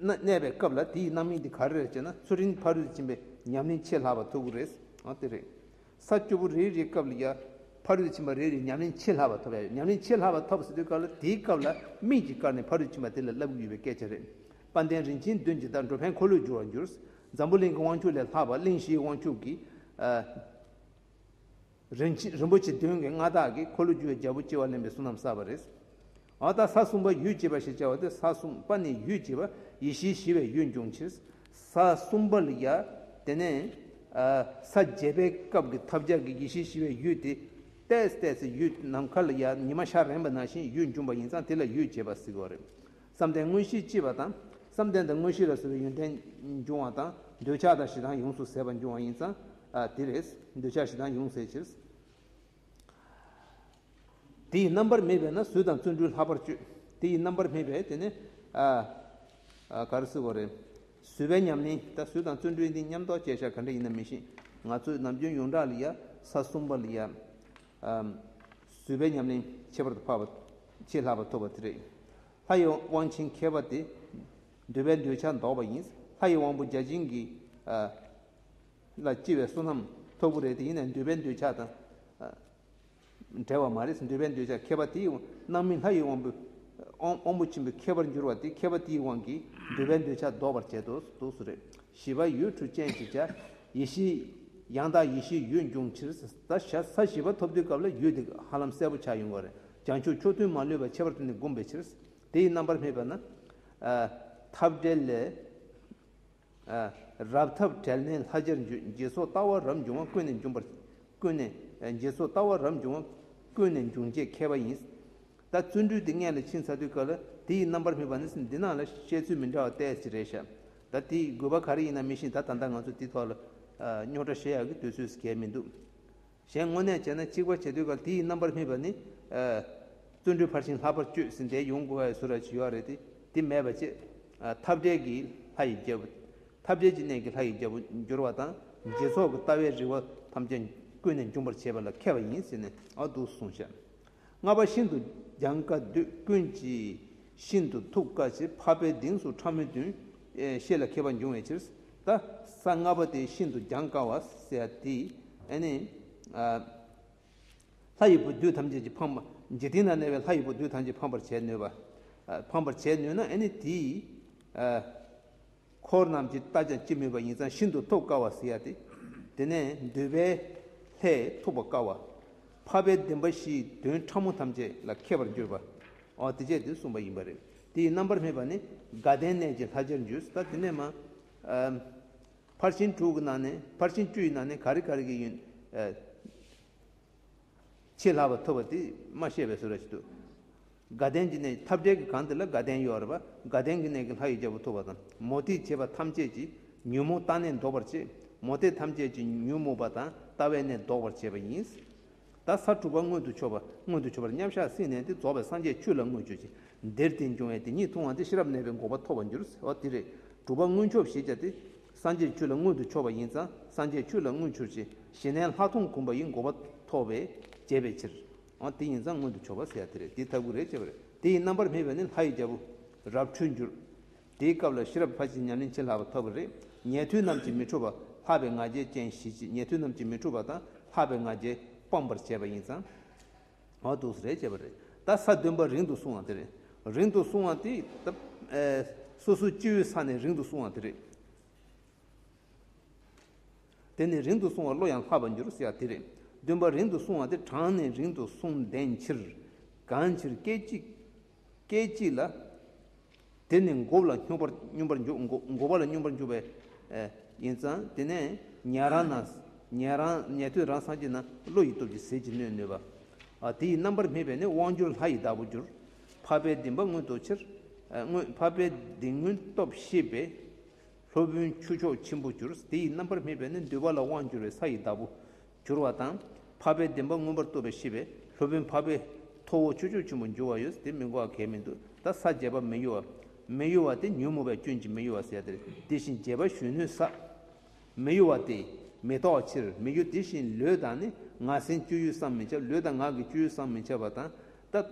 Speaker 1: གནས་པའི་སྐབས་ལ་དེའི་རྣམ་སྨིན་དེ་ག་རེ་རེད་ཅེ་ན་ཚུར་རིན་ཕ་རུས་འབྱིན་པའི་ཉམས་ལེན་ཆེས་ལྷག་པ་ཐོབ་གི་རེད། འོ་དེ་རེད། ས་སྐྱོ་པོ་རེ་རེའི་སྐབས་ལ་ཡང་ཕ་རུས་འབྱིན་པ་རེ་རེའི་ཉམས་ལེན་ཆེས་ལྷག་པ་ཐོབ་ཡ་ཡོད་ཉམས་ལེན་ཆེས་ལྷག་པ་ཐོབ་ཟེར་དུས་སྐབས་ལ་དེའི་སྐབས་ལ་སྨིན་གྱི་སྐར་ནས་ཕ་རུས་འབྱིན་པ་དེ་ལ་བསླབ་གི་ཡོད་པའི་སྐད་ཆ་རེད། དཔལ་ལྡན་རིན་ཆེན་བདུན་ཇི་ལྟར་འགྲོ་ཕན་འཁོར་ལོས་བསྒྱུར་བར་འགྱུར། འཛམ་བུ་གླིང་གི་དབང་ཕྱུག་ལས་ལྷག་པ་གླིང་བཞིའི་དབང་ཕྱུག་གིས། རིན་ཆེན་རིན་པོ་ཆེ་བདུན་གྱི་མངའ་བདག་གིས་འཁོར་ལོ་རྒྱུ་བའི་རྒྱལ་པོ་སྐྱེ་བ་ལེན་པའི་གཟུངས་རྣམས་བསགས་པ་རེད། འོ་ད་ས་གསུམ་པ་ཡུལ་སྐྱེས་པ་ཞེས་བྱ་བ་སྟེ་ས་གསུམ་པ་ནི་ཡུལ་སྐྱེས་པ་ཡེ་ཤེས་ཞི་བའི་ཡུལ་འབྱུང་ཕྱིར། ས་གསུམ་པ་ལ། དེ་ནས། ས་བརྒྱད་པའི་སྐབས་ཀྱི་ཐབས་ཆག་གི་ཡེ་ཤེས་ཞི་བའི་ཡུལ་ཏེ། ཏས་ཏས་སུ་ཡུལ་ནམ་མཁའ་ལ། ཉི་མ་ཤར་རན་པ་ན་བཞིན་ཡུལ་འབྱུང་བ་ཡིན་ཙང་དེ་ལ་ཡུལ་སྐྱེས་པ་ཟེར་བ་རེད། བསམ་གཏན་དངོས་གཞིའི་ལྕི་བ་དང། བསམ་གཏན་དང་དངོས་གཞི་ལ་སོགས་པའི་ཡོན་ཏན་འབྱུང་བ་དང། འདོད་ཆགས་དང་ཞེ་སྡང་ཡོངས་སུ་ཟད་པ་འབྱུང་བ་ཡིན་ཙང། དེ་ལས། འདོད་ཆགས་ཞེ་སྡང་ཡོངས་ཟད་ཕྱིར། དེ་ཡི་རྣམ་པར་སྨིན་པས་ན་གཟུགས་དང་བརྩོན་འགྲུས་ལྷག་པར་སྤྱོད། དེ་ཡི་རྣམ་པར་སྨིན་པས་དེ་ནི། བཟོད་པའི་ཉམས་ནི། ད་གཟུགས་དང་བརྩོན་འགྲུས་འདི་ཉམས་རྟོགས་བཅས་ཆ་ག་འདྲ་ཡིན་ན་མི་ཤེས། ང་ཚོས་ནམ་རྒྱུན་ཡོངས་གྲགས་ལི་ཡ། ས་གསུམ་པ་ལི་ཡ། བཟོད་པའི་ཉམས་ལེན་ཁྱད་པར་དུ་འཕགས་པ། ཆེས་ལྷག་པར་ཐོབ་པ་དེ་རེད། ལྷ་ཡི་དབང་ཆེན་མཁས་པ་དེ། འདོད་པའི་འདོད་ཆགས་ཟློག་པ་ཡིན། ལྷ་ཡི་དབང་པོ་བརྒྱ་བྱིན་གྱི། ལ་སྐྱེ་བའི་བསོད་ནམས་ཐོབ་གོ་རེད་དེ་ཡིན་ནའི་འདོད་པའི་འདོད་ཆགས་དང། བྲལ་བ་མ་རེད་འདོད་པའི་འདོད་ཆགས་མཁས་པ་དེའི་རྣམ་སྨིན་ལྷ་ཡི་དབང་པོ། དབང་པོ་ཆེན་པོའི་མཁས་པར་འགྱུར་བ་དེ་མཁས་པ་དེའི་དབང་གིས་འདོད་པའི་འདོད་ཆགས་ཟློག་པར་བྱེད་དོ་སོ་རེད། བཞི་པ་ཡུལ་དྲུག་སྤྱན་གྱིས་བྱ། ཡེ་ཤེས། ཡང་དག་ཡེ་ཤེས་ཡུལ་འབྱུང་ཕྱིར། ད་བཞག་ས་བཞི་པ་ཐོབ་དུས་སྐབས་ལ་ཡུལ་དེ་ཧ་ལམ་གསལ་པོ་ཆགས་ཡོང་གི་རེད་བྱང་ཆུབ་མཆོག་ཐུན་མ་ལུས་པ་ཁྱད་པར་དེ་ནི་བསྒོམས་པའི་ཕྱིར། དེ་ཡི་རྣམ་པར་སྨིན་པ་ན། ཐབས་བྲལ་ལས། རབ་ཐབས་བྲལ་མའི་ལྷ་སྦྱར་འགྱུར་རྗེས་སོགས་ལྟ་བ་རབ་འབྱུང་བ་ཀུན་ནས་འབྱུང་བར། ཀུན་ནས། རྗེས་སོགས་ལྟ་བ་རབ་འབྱུང་བ། ཀུན་ནས་འབྱུང་བྱེད་མཁས་པ་ཡིན། ད་བརྩོན་འགྲུས་དེ་མངལ་ལ་ཕྱིན་ཚར་དུས་སྐབས་ལ་དེ་ཡི་རྣམ་པར་སྨིན་པ་ནི་འདི་སྣང་ལ་བཤད་ཚུལ་མི་འདྲ་བ་བལྟས་ཅི་རེད་བྱ། ད་དེའི་དགོས་པ་ག་རེ་ཡིན་ན་མི་ཤེས་ད་ད་ལྟ་ང་ཚོ་དེའི་ཐོག་ལ་རྙོག་དྲ་བཤད་ཡག་གི་དུས་ཚོད་གལ་མི་འདུག་གཞན་དངོས་གནས་བྱས་ན་གཅིག་པ་བྱེད་དུས་ཀ་དེའི་རྣམ་པར་སྨིན་པ་ནི། བརྩོན་འགྲུས་འཕར་ཞིང་ལྷག་པར་བསྐྱོད་ཟིན་དེ་ཡོང་དགོས་བ་ཡི་སུ་ར་བྱེད་ཡོག་རེད་དེ་དེ་མེད་པ་ཅེས། འཐབ་བྲལ་གྱི་ལྷ་ཡི་རྒྱལ་པོ། འཐབ་བྲལ་གྱི་གནས་ཀྱི་ལྷ་ཡི་རྒྱལ་པོ་འགྱུར་བ་དང་རྗེས་ཚོགས་ཀྱི་ལྟ་བའི་རིགས་བ་ཐམས་ཅད་ཀུན་ནས་འབྱུང་པར་བྱེད་པ་ལ་མཁས་པ་ཡིན་ཟེར་ནས་འདུག་གསུངས་བྱས། ལྔ་པ་ཤིན་ཏུ་རྒྱང་དཀའ་བདུད་ཀུན་གྱིས་ཤིན་ཏུ་ཐུགས་དཀའ་བྱེད་འཕགས་པའི་གདེངས་སུ་ཕྲ་མོའི་དོན་ཤེས་ལ་མཁས་པ་འབྱུང་བའི་ཕྱིར། ད་ས་ལྔ་པ་དེ་ཤིན་ཏུ་རྒྱང་དཀའ་བ་སེ་ཨ་ཏི་ཨ་ནི། ལྷ་ཡི་བུ་བདུད་ཐམས་ཅད་ཀྱི་འཕང་པ་འཇིག་རྟེན་ན་གནས་པའི་ལྷ་ཡི་བུ་བདུད་ཐམས་ཅད་འཕང་པར་བྱེད་ནུས་པ། འཕང་པར་བྱེད་ནུས་ན་ཨ་ནི་དེའི། འཁོར་རྣམས་ཀྱིས་བལྟ་ཀྱང་ཅི་སྨོས་པ་ཡིན་ཙང་ཤིན་ཏུ་ཐུབ་དཀའ་བ་ཟེར་ཡ་སྟེ། དེ་ནས་འདུལ་བའི་ལྷས་ཐུགས་པ་དཀར་བ། འཕགས་པའི་བདེན་པ་བཞིའི་དོན་ཕྲ་མོ་ཐམས་ཅད་ལ་མཁས་པར་གྱུར་པ། འོ་དེ་སྤྱད་དེ་གསུངས་པ་ཡིན་པ་རེད། དེའི་རྣམ་པར་སྨིན་པ་ནི་དགའ་ལྡན་གནས་ཀྱི་ལྷ་ཇར་འཇུས་སུ་ལྟ་དེ་ནས་མ། ཕར་ཕྱིན་དྲུག་གི་ནང་ནས་ཕར་ཕྱིན་བཅུ་ཡི་ནང་ནས་ག་རེ་ག་རེ་གི་ཡུན། ཆེས་ལྷག་པར་ཐུབ་པ་དེ་སྨྲ་ཤེས་པའི་ཟུར་ར་ཞིག་ཏུ། དགའ་ལྡན་གྱི་གནས་ཀྱི་འཐབ་བྲལ་གྱི་གང་དེ་ལ་དགའ་ལྡན་ཡོད་རེ་བ་དགའ་ལྡན་གྱི་གནས་ཀྱི་ལྷ་ཡི་རྒྱལ་པོ་ཐུབ་པ་དང་མོ་ཏིས་བྱེད་པ་ཐམས་ཅད་ཀྱིས་ཉོན་མོངས་ལྟ་གནས་འདོགས་པར་བྱེད། མོ་ཏིས་ཐམས་ཅད་ཀྱིས་ཉོན་མོངས་པ་དང་ལྟ་བའི་གནས་འདོགས་པར་བྱེད་པ་ཡིན། ད་ས་དྲུག་པ་མངོན་དུ་ཕྱོགས་པ་མངོན་དུ་ཕྱོགས་པར་མཉམ་གཞག་སྲིད་གནས་འདི་རྫོགས་པའི་སངས་རྒྱས་ཆོས་ལ་མངོན་སྤྱོད་ཅིང་འདིར་དེ་འབྱུང་བས་དེ་ཉིད་མཐོང་བ་འདི་ཤེས་རབ་གནས་པའི་འགོག་པ་ཐོབ་པར་འགྱུར་ཟེར་བ་འདི་རེད། དྲུག་པ་མངོན་ཕྱོགས་ཞེས་བྱ་སྟེ། སངས་རྒྱས་ཆོས་ལ་མངོན་དུ་ཕྱོགས་པ་ཡིན་ཙང་སངས་རྒྱས་ཆོས་ལ་མངོན་ཕྱུར་ཅིག་ཞེ་ནས་ལྷག་མཐོང་བསྒོམ་པ་ཡི་འགོག་པ་ཐོབ་བས་བརྒྱད་པའི་ཕྱིར། འོ་དེ་ཡིན་ཙང་སྔོན་དུ་བྱོ་བ་ཟེར་ཡ་དེ་རེད་དེ་ཐབས་ཀུན་རེད་ཅེས་པ་རེད། དེ་ཡི་རྣམ་པར་སྨིན་པ་ནི་ལྷ་ཡི་རྒྱལ་པོ། རབ་འཁྲུལ་འགྱུར། དེའི་སྐབས་ལ་ཤེས་རབ་ལྷ་ཅིག་ཉམས་ལེན་བྱེད་ལྷག་པ་ཐོབ་པ་རེད། ཉལ་ཐུལ་རྣམས་ཀྱིས་མི་འཁྲུགས་པ། ལྷག་པའི་ང་རྒྱལ་ཅན་ཞིག་ཅིག་ཉལ་ཐུལ་རྣམས་ཀྱིས་མི་འཁྲུགས་པ་དང་ལྷག་པའི་ང་རྒྱལ་སྤངས་པར་བྱས་པ་ཡིན་ཙང། འོ་དུག་གསུམ་རེད་ཅེས་པ་རེད། ད་ས་བདུན་པ་རིང་དུ་སོང་བ་དེ་རེད། རིང་དུ་སོང་བ་དེ། སོ་སོའི་སྤྱི་བོའི་ས་ནས་རིང་དུ་སོང་བ་དེ་རེད། དེ་ནི་རིང་དུ་བསྲུང་བ་བློ་ཡང་ལྷག་པར་འགྱུར་ཟེར་བ་དེ་རེད། འདུན་པ་རིང་དུ་བསྲུང་བ་དེ་གྲངས་ནི་རིང་དུ་བསྲུང་བདེན་ཕྱིར། གང་ཕྱིར་སྐད་ཅིག། སྐད་ཅིག་ལ། དེ་ནི་འགོ་བ་ལ་སྙོམས་པར་སྙོམས་པར་འཇུག་འགོ་འགོ་བ་ལ་སྙོམས་པར་འཇུག་པའི། ཡིན་ཙང་དེ་ནས་ཉལ་རང་ན། ཉལ་རང་ཉལ་དུས་རང་སངས་རྒྱས་ན་བློ་ཡི་སྟོབས་ཀྱིས་ཟིལ་གྱིས་གནོན་ནུས་པ། དེ་ཡི་རྣམ་པར་སྨིན་པས་ནི་དབང་སྒྱུར་ལྷ་ཡི་བདག་པོར་འགྱུར། འཕགས་པའི་གདིང་པ་མངོན་རྟོགས་ཕྱིར། མངོན་འཕགས་པའི་གདིང་མངོན་རྟོགས་ཤེས་པས། སློབ་དཔོན་ཁྱུ་མཆོག་ཆེན་པོ་གྱུར། དེ་ཡི་རྣམ་པར་སྨིན་པས་ནི་འདུལ་བ་ལ་དབང་བསྒྱུར་བའི་ས་ཡི་བདག་པོ། གྱུར་བ་དང། འཕགས་པའི་བདེན་པ་མངོན་པར་རྟོགས་པའི་ཤེས་པས་སློབ་དཔོན་འཕགས་པའི། ཐོ་བོ་ཁྱུ་མཆོག་ཆེན་པོ་འགྱུར་བ་ཡོད། དེ་མི་འགོག་གལ་མི་འདུ་ད་ས་བརྒྱད་པ་མི་གཡོ་བ། མི་གཡོ་བ་སྟེ་ཉོན་མོངས་པའི་སྐྱོན་གྱིས་མི་གཡོ་བ་ཟད་དེར་དེ་བཞིན་བརྒྱད་པ་གཞོན་ནུའི་ས། མི་གཡོ་བ་སྟེ། མི་རྟོག་ཕྱིར་མི་གཡོ་དེ་བཞིན་ལུས་དང་ནི་ངག་སེམས་སྤྱོད་ཡུལ་བསམ་མི་ཁྱབ་ལུས་དང་ངག་གི་སྤྱོད་ཡུལ་བསམ་མི་ཁྱབ་པ་དང། ད།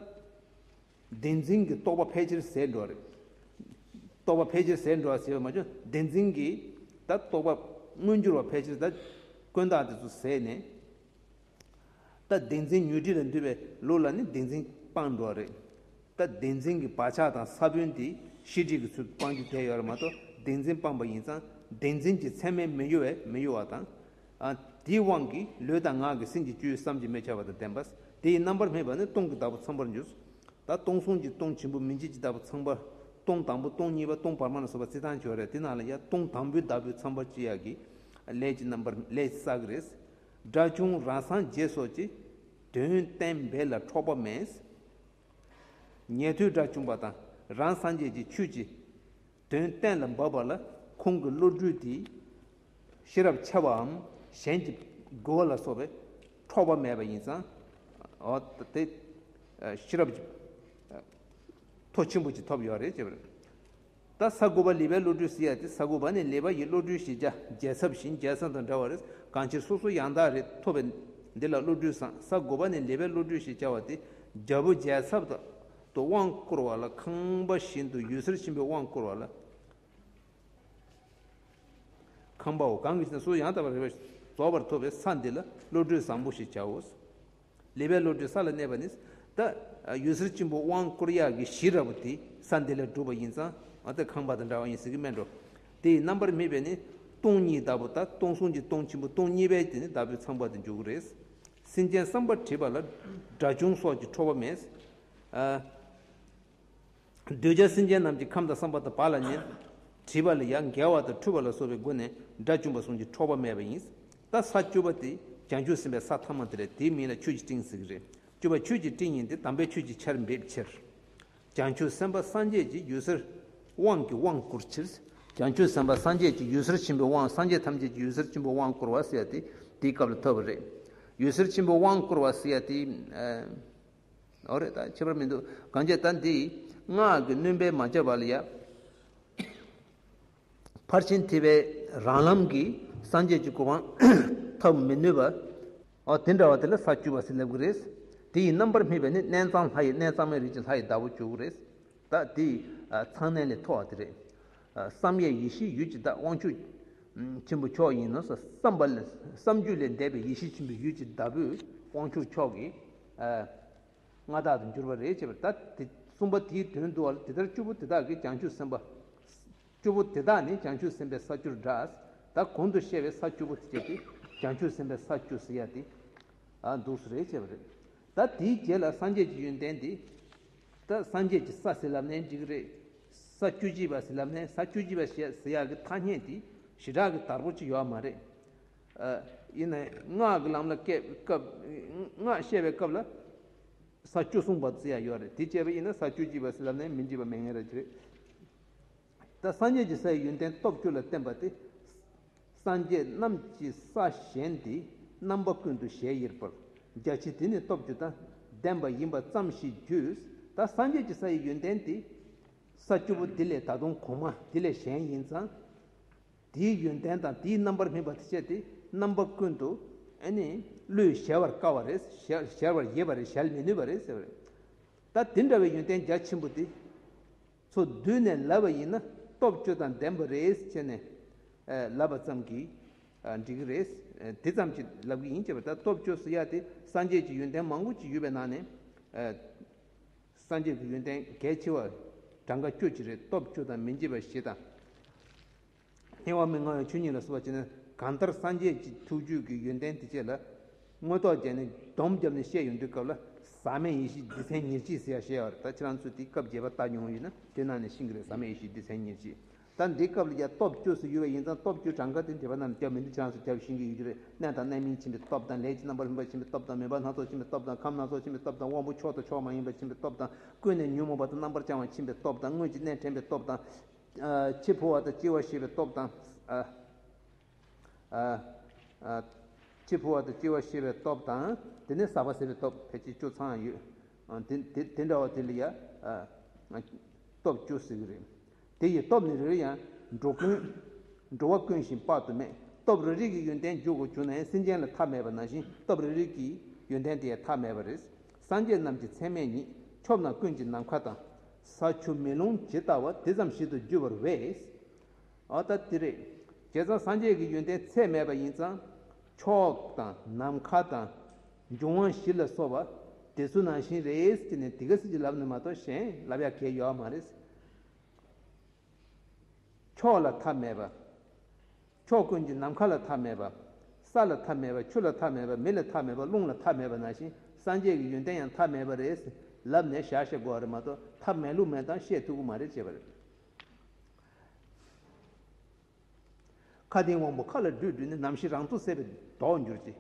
Speaker 1: བདེན་འཛིན་གྱི་རྟོག་པ་ཕལ་ཆེར་ཟད་འགྲོ། རྟོག་པ་ཕལ་ཆེར་ཟད་འགྲོ་ཟེར་བ་མ་བཅོས་བདེན་འཛིན་གྱི་དང་རྟོག་པ་མངོན་གྱུར་བ་ཕལ་ཆེར་དང་ཀུན་བཏགས་དེ་ཚོ་ཟད་ནས། ད་བདེན་འཛིན་ཉོས་དྲིས་ལ་འདུས་པའི་ལུགས་ལ་ནི་བདེན་འཛིན་སྤངས་འགྲོ་རེད། ད་བདེན་འཛིན་གྱི་བག་ཆགས་དང་ས་བོན་དེ་ཤེས་དྲིས་ཀྱི་ཚུལ་དུ་སྤང་རྒྱུ་དེ་ཡོད་ལ་མ་གཏོགས་བདེན་འཛིན་སྤངས་པ་ཡིན་ཙང་བདེན་འཛིན་གྱི་མཚན་མའི་མི་གཡོ་བས་མི་གཡོ་བ་དང། དེའི་དབང་གིས་ལུས་དང་ངག་གི་སེམས་ཀྱི་བཅུད་བསམ་གྱིས་མི་ཁྱབ་པ་དང་ལྡན་པ། དེ་ཡིས་རྣམ་པར་སྨིན་པ་ནི་སྟོང་གི་བདག་པོ་ཚངས་པར་འགྱུར། ད་སྟོང་གསུམ་གྱི་སྟོང་ཆེན་པོ་མི་མཇེད་ཀྱི་བདག་པོ་ཚངས་པ། སྟོང་དང་པོ་སྟོང་གཉིས་པ་སྟོང་བར་མ་ལ་སོགས་པ་རྩི་དང་བྱོ་ར་དེ་རྣམས་ལ་ཡང་སྟོང་དང་པོའི་བདག་པོའི་ཚངས་པར་ཅི་ཡག་གི། ལས་ཀྱི་རྣམ་པར་ལས་ཀྱི་བསགས་རེས། སྒྲ་བྱུང་རང་སངས་རྒྱས་སོགས་ཀྱི། དོན་བསྟན་འབེལ་ལ་འཕྲོག་པ་མེད། ཉན་ཐོས་སྒྲ་བྱུང་པ་དང་རང་སངས་རྒྱས་ཀྱི་ཆོས་ཀྱི། དོན་གཏན་ལ་འབབ་པ་ལ་ཁོང་གི་བློ་གྲོས་དེས་ཤེས་རབ་འཆལ་བའམ་གཞན་གྱི་རྒོལ་བ་ལ་སོགས་པས་འཕྲོག་པ་མེད་པ་ཡིན་ཙང། དེ་ཤེས་རབ་ཀྱི་མཐོ་ཆེན་པོ་ཅིག་ཐོབ་ཡོད་རེད་ཅེས་པ་རེད། ད་ས་དགུ་པ་ལི་པའི་བློ་གྲོས་ཟེར་ཡ་དེ་ས་དགུ་པ་ནས་ལི་པ་ཡི་བློ་གྲོས་ཤེས་བྱ་རྒྱལ་ཚབ་བཞིན་རྒྱལ་བཟང་དང་འདྲ་བ་རེད་གང་ཕྱིར་སོ་སོ་ཡང་དག་རེད་ཐོབ་པའི་འདི་ལ་བློ་གྲོས་བཟང་ས་དགུ་པ་ནས་ལི་པའི་བློ་གྲོས་ཞེས་བྱ་བ་དེ་རྒྱལ་པོ་རྒྱལ་ཚབ་དང། དུ་དབང་བསྐུར་བ་ལ་ཁང་པ་བཞིན་དུ་ཡུལ་གསེར་ཆེན་པོའི་དབང་བསྐུར་བ་ལ། ཁང་པའོ། གང་གིས་ན་སོ་ཡང་དག་པར་རེ་བ་རྫོགས་པར་ཐོབ་པའི་ས་འདི་ལ་བློ་གྲོས་བཟང་པོ་ཞེས་བྱའོ། ལེ་བའི་བློ་གྲོས་ས་ལ་གནས་པ་ནི། ད་ཡུལ་གསེར་ཆེན་པོ་དབང་བསྐུར་གཡག་གི་གཞི་ར་བོ་དེ་ས་འདི་ལ་བསྒྲུབས་པ་ཡིན་ཙང་ད་ཁང་པ་དང་འདྲ་བ་ཡིན་ཟེར་གྱི་སྨྲས་འགྲོ། དེ་ཡི་རྣམ་པར་སྨིན་པས་ནི་སྟོང་ཉིད་གདབ་བོ་ད་སྟོང་གསུང་གྱི་སྟོང་ཆེན་པོ་སྟོང་གཉིས་པའི་དེ་ནི་བདག་པོའི་ཚངས་པ་དུ་འཇུག་གི་རེད། སེམས་ཅན་བསམ་པར་བྲིད་པ་ལ་དགྲ་བྱུང་སོགས་ཀྱི་ཁྲོ་བོ་མེད། འདོད་ཆགས་སེམས་ཅན་རྣམས་ཀྱི་ཁམས་དང་བསམ་པ་དང་བག་ལ་ཉལ། བྲིད་པ་ལ་ཡང་འགལ་བ་དང་འཁྲུལ་བ་ལ་སོགས་པའི་སྒོ་ནས་དགྲ་བཅུ་འབའ་གསུམ་གྱི་ཁྲོ་བོ་མེད་པ་ཡིན། ད་ས་བཅུ་པ་དེ་བྱང་ཆུབ་སེམས་དཔའི་ས་ཐམས་མ་དེ་ལས་དེའི་མིང་ལ་ཆོས་ཀྱི་སྤྲིན་ཟེར་གྱི་རེད། བཅུ་པ་ཆོས་ཀྱི་སྤྲིན་ཡིན་ཏེ་དམ་པའི་ཆོས་ཀྱི་ཆར་འབེབས་ཕྱིར། བྱང་ཆུབ་སེམས་དཔའ་སངས་རྒྱས་ཀྱི་ཡུལ་སར་དབང་གི་དབང་བསྐུར་ཕྱིར། བྱང་ཆུབ་སེམས་དཔའ་སངས་རྒྱས་ཀྱི་ཡུལ་སར་ཆེན་པོའི་དབང་སངས་རྒྱས་ཐམས་ཅད་ཀྱི་ཡུལ་སར་ཆེན་པོའི་དབང་བསྐུར་བ་སེ་ཡ་ཏི་དེའི་སྐབས་ལ་ཐོས་པ་རེད། ཡུལ་སར་ཆེན་པོའི་དབང་བསྐུར་བ་སེ་ཡ་ཏི། ཨོ་རེད་ད་ཁྱད་པར་མི་འདུག་གང་ཅེ་ད་འདི། སྔགས་ཀྱི་བསྣུན་པས་མ་བྱས་པ་ལ་ཡང། ཕར་ཕྱིན་ཐེག་པའི་རང་ལམ་གྱིས་སངས་རྒྱས་ཀྱི་གོ་འཕང་ཐོབ་མི་ནུས་པ། ཨོ་དེ་འདྲ་བ་དེ་ལ་ས་བཅུ་བ་སེམས་ལེགས་དགོས་རེད། དེ་ཡི་རྣམ་པར་སྨིན་པའི་ནི་གནས་གཙང་ལྷ་ཡི་གནས་གཙང་མའི་རིགས་ཀྱི་ལྷ་ཡི་བདག་པོ་བཅུ་དགུ་རེད། ད་དེ་ཡི་ཚངས་གནས་ལས་མཐོ་བ་དེ་རེད། བསམ་ཡས་ཡེ་ཤེས་ཡུལ་གྱི་བདག་དབང་ཆོས་ཆེན་པོ་མཆོག་ཡིན་ནོ་བསམ་པ་ལས་བསམ་རྒྱུད་ལས་འདས་པའི་ཡེ་ཤེས་ཆེན་པོའི་ཡུལ་གྱི་བདག་པོས་དབང་ཆོས་མཆོག་གི་མངའ་བདག་ཏུ་འགྱུར་བ་རེད་ཅེས་པ་ད་དེ་གསུངས་པ་དེའི་དོན་བསྡུ་བ་ལ་དེ་ལྟར་བཅུ་པོ་དེ་དག་གིས་ཀྱང་ཆོས་སེམས་དཔའ། བཅུ་པོ་དེ་དག་ནི་བྱང་ཆུབ་སེམས་དཔའི་ས་བཅུར་བསྒྲགས། ད་གོང་དུ་བཤད་པའི་ས་བཅུ་པོ་སྤྱད་དེ་བྱང་ཆུབ་སེམས་དཔའི་ས་བཅུ་ཟེར་ཡ་དེ། འདུག་ས་རེད་ཅེས་པ་རེད། ད་དེའི་རྗེས་ལ་སངས་རྒྱས་ཀྱི་ཡོན་ཏན་འདི། ད་སངས་རྒྱས་ཀྱི་ས་ཟེར་ལབ་ནས་འགྲིག་གི་རེད། ས་བཅུ་གཅིག་པ་ཟེར་ལབ་ནས་ས་བཅུ་གཅིག་པ་བཤད་ཟེར་ཡ་གི་ཐ་སྙད་འདི་ཞི་དྲག་གི་དར་པོ་ཅིག་ཡོད་མ་རེད། ཡིན་ནའི་སྔགས་ཀྱི་ལམ་ལ་སྔགས་བཤད་པའི་སྐབས་ལ་ས་བཅུ་གསུངས་པ་ཟེར་ཡ་ཡོད་རེད་དེ་བཅད་པ་ཡིན་ན་ས་བཅུ་གཅིག་པ་ཟེར་ལབ་ནས་མི་འགྲིག་པ་མེད་ངེས་རེད། ད་སངས་རྒྱས་ཀྱི་སའི་ཡོན་ཏན་སྟོབས་བཅུ་ལ་བརྟེན་པ་སྟེ། སངས་རྒྱས་རྣམས་ཀྱི་ས་གཞན་དེའི་རྣམ་པ་ཀུན་ཏུ་ཞལ་དབྱེར་པར་རྒྱ་ཆེ་དེ་ནི་སྟོབས་བཅུ་དང་ལྡན་པ་ཡིན་པ་ཙམ་ཞིག་བརྗོད། ད་སངས་རྒྱས་ཀྱི་སའི་ཡོན་ཏན་དེ་ས་བཅུ་པོ་འདི་ལས་ད་དུང་གོང་མ་དེ་ལས་གཞན་ཡིན་ཙང། དེའི་ཡོན་ཏན་དང་དེའི་རྣམ་པར་སྨིན་པ་དེ་སྤྱད་དེ་རྣམ་པ་ཀུན་ཏུ་བློས་གཞལ་བར་དཀའ་བ་རེད། གཞལ་བར་ཡས་པ་རེད་གཞལ་མི་ནུས་པ་རེད། ད་དེ་འདྲ་བའི་ཡོན་ཏན་རྒྱ་ཆེན་པོ་དེ། ཚོ་བསྡུས་ནས་ལབ་པ་ཡིན་ན་སྟོབས་བཅུ་དང་ལྡན་པ་རེད་ཅེས་ནས། ལབ་པ་ཙམ་གྱིས་འགྲིག་གི་རེད། དེ་ཙམ་གྱིས་ལབ་གི་ཡིན་ཅེས་པ་ལྟར་སྟོབས་བཅུ་སོ་ཡ་དེ་སངས་རྒྱས་ཀྱི་ཡོན་ཏན་མང་པོ་ཅིག་ཡོད་པའི་ནང་ནས། སངས་རྒྱས་ཀྱི་ཡོན་ཏན་གལ་ཆེ་བ་གྲངས་ཀ་བཅུ་གཅིག་རེད་སྟོབས་བཅུ་དང་མི་འབྱེད་པ་བཞི་དང། ཐལ་བ་མི་མངའ་བའི་ཆོས་ཉིད་ལ་བསུ་བ་བྱེད་ན་གང་ལྟར་སངས་རྒྱས་ཀྱི་ཐུགས་བཅུད་ཀྱི་ཡོན་ཏན་དེ་བསྐྱེད་ལ། མངོན་རྟོགས་རྒྱས་ནས་སྡོམ་བརྒྱབ་ནས་བཤད་ཡོན་དུས་སྐབས་ལ་ཟག་མེད་ཡེ་ཤེས་བདེ་ཆེན་ཉེར་གཅིག་ཟེར་ཡ་ཞེས་བ་ད་ཁྱེད་རང་ཚོས་དེ་སྐབས་རྒྱས་པ་ལྟ་མྱོང་ཡོད་ན་དེ་ནང་ནས་ཤིང་གི་རེད་ཟག་མེད་ཡེ་ཤེས་བདེ་ཆེན་ཉེར་གཅིག་ད་འདི་སྐབས་ལ་རྒྱ་སྟོབས་བཅུ་སུ་ཡོད་པ་ཡིན་ཙང་སྟོབས་བཅུ་གྲངས་ཀ་དེ་འདས་པ་རྣམས་ལ་རྒྱབ་མི་འདུག་ཁྱེད་རང་ཚོས་རྒྱབ་ཤིང་གི་ཡོད་རྒྱུ་རེད་གནས་དང་གནས་མིན་ཕྱིན་པའི་སྟོབས་དང་ལས་ཀྱི་རྣམ་པར་ལྷུན་པ་ཕྱིན་པའི་སྟོབས་དང་མོས་པ་སྣ་ཚོགས་ཕྱིན་པའི་སྟོབས་དང་ཁམས་སྣ་ཚོགས་ཕྱིན་པའི་སྟོབས་དང་དབང་པོ་མཆོག་དང་མཆོག་མ་ཡིན་པ་ཕྱིན་པའི་སྟོབས་དང་ཀུན་ནས་ཉོན་མོངས་པ་དང་རྣམ་པར་བྱང་བ་ཕྱིན་པའི་སྟོབས་དང་དངོས་ཀྱི་གནས་དྲན་པའི་སྟོབས་དང། འཆི་འཕོ་བ་དང་སྐྱེ་བ་ཤེས་པའི་སྟོབས་དང། འཆི་འཕོ་བ་དང་སྐྱེ་བ་ཤེས་པའི་སྟོབས་དང། དེ་ནས་ཟག་པ་ཟད་པའི་སྟོབས་ཕལ་ཆེར་བཅུ་ཚང་ཡོད། དེ་འདྲ་བ་དེ་ལ་ཡང་སྟོབས་བཅུ་ཟེར་གྱི་རེད། དེ་ཡི་སྟོབས་ནི་རེ་རེ་ཡང་འགྲོ་ཀུན། འགྲོ་བ་ཀུན་བཞིན་དཔག་ཏུ་མེད། སྟོབས་རེ་རེ་གི་ཡོན་ཏན་འཇུག་གོ་གྱུར་ན་ཡང་སེམས་ཅན་ལ་ཐ་མལ་པ་ན་བཞིན་སྟོབས་རེ་རེ་གི་ཡོན་ཏན་དེ་ཡང་ཐ་མལ་པ་རེད། སངས་རྒྱས་རྣམས་ཀྱི་མཚན་མས་ཉིད། ཕྱོགས་རྣམས་ཀུན་གྱི་ནམ་མཁའ་དང། ས་ཆུ་མེ་རླུང་ཇི་ལྟ་བ་དེ་ཙམ་ཞིག་ཏུ་འགྱུར་བར་བས། ཨཱ་ད་དེ་རེད། བྱས་ཙང་སངས་རྒྱས་ཀྱི་ཡོན་ཏན་ཚད་མེད་པ་ཡིན་ཙང། ཕྱོགས་དང་ནམ་མཁའ་དང། འབྱུང་བ་བཞི་ལ་སོགས་པ། དེ་སུ་ནང་བཞིན་རེད་ཅེ་ནས་དེ་ག་སྲིད་ཀྱི་ལབ་ནི་མ་གཏོགས་གཞན་ལབ་ཡག་གལ་ཡོའ་མ་རེད། ཕྱོགས་ལ་ཐ་མལ་པ། ཕྱོགས་ཀུན་གྱི་ནམ་མཁའ་ལ་ཐ་མལ་པ། ས་ལ་ཐ་མལ་པ་ཆུ་ལ་ཐ་མལ་པ་མི་ལ་ཐ་མལ་པ་རླུང་ལ་ཐ་མལ་པ་ནང་བཞིན་སངས་རྒྱས་ཀྱི་ཡོན་ཏན་ཡང་ཐ་མལ་པ་རེད། ལབ་ནས་བཞག་ཤེས་དགོས་རེད་མ་གཏོགས་ཐ་མལ་ལུགས་མེད་དང་བཤད་ཐུབ་ཀྱི་མ་རེད་ཅེས་པ་རེད། མཁའ་ལྡིང་དབང་པོ་མཁའ་ལ་སྦྲུལ་སྦྲུལ་ནས་ནམ་ཞིག་རང་ཐུགས་སད་པའི་མདོག་འགྱུར་ཅིག།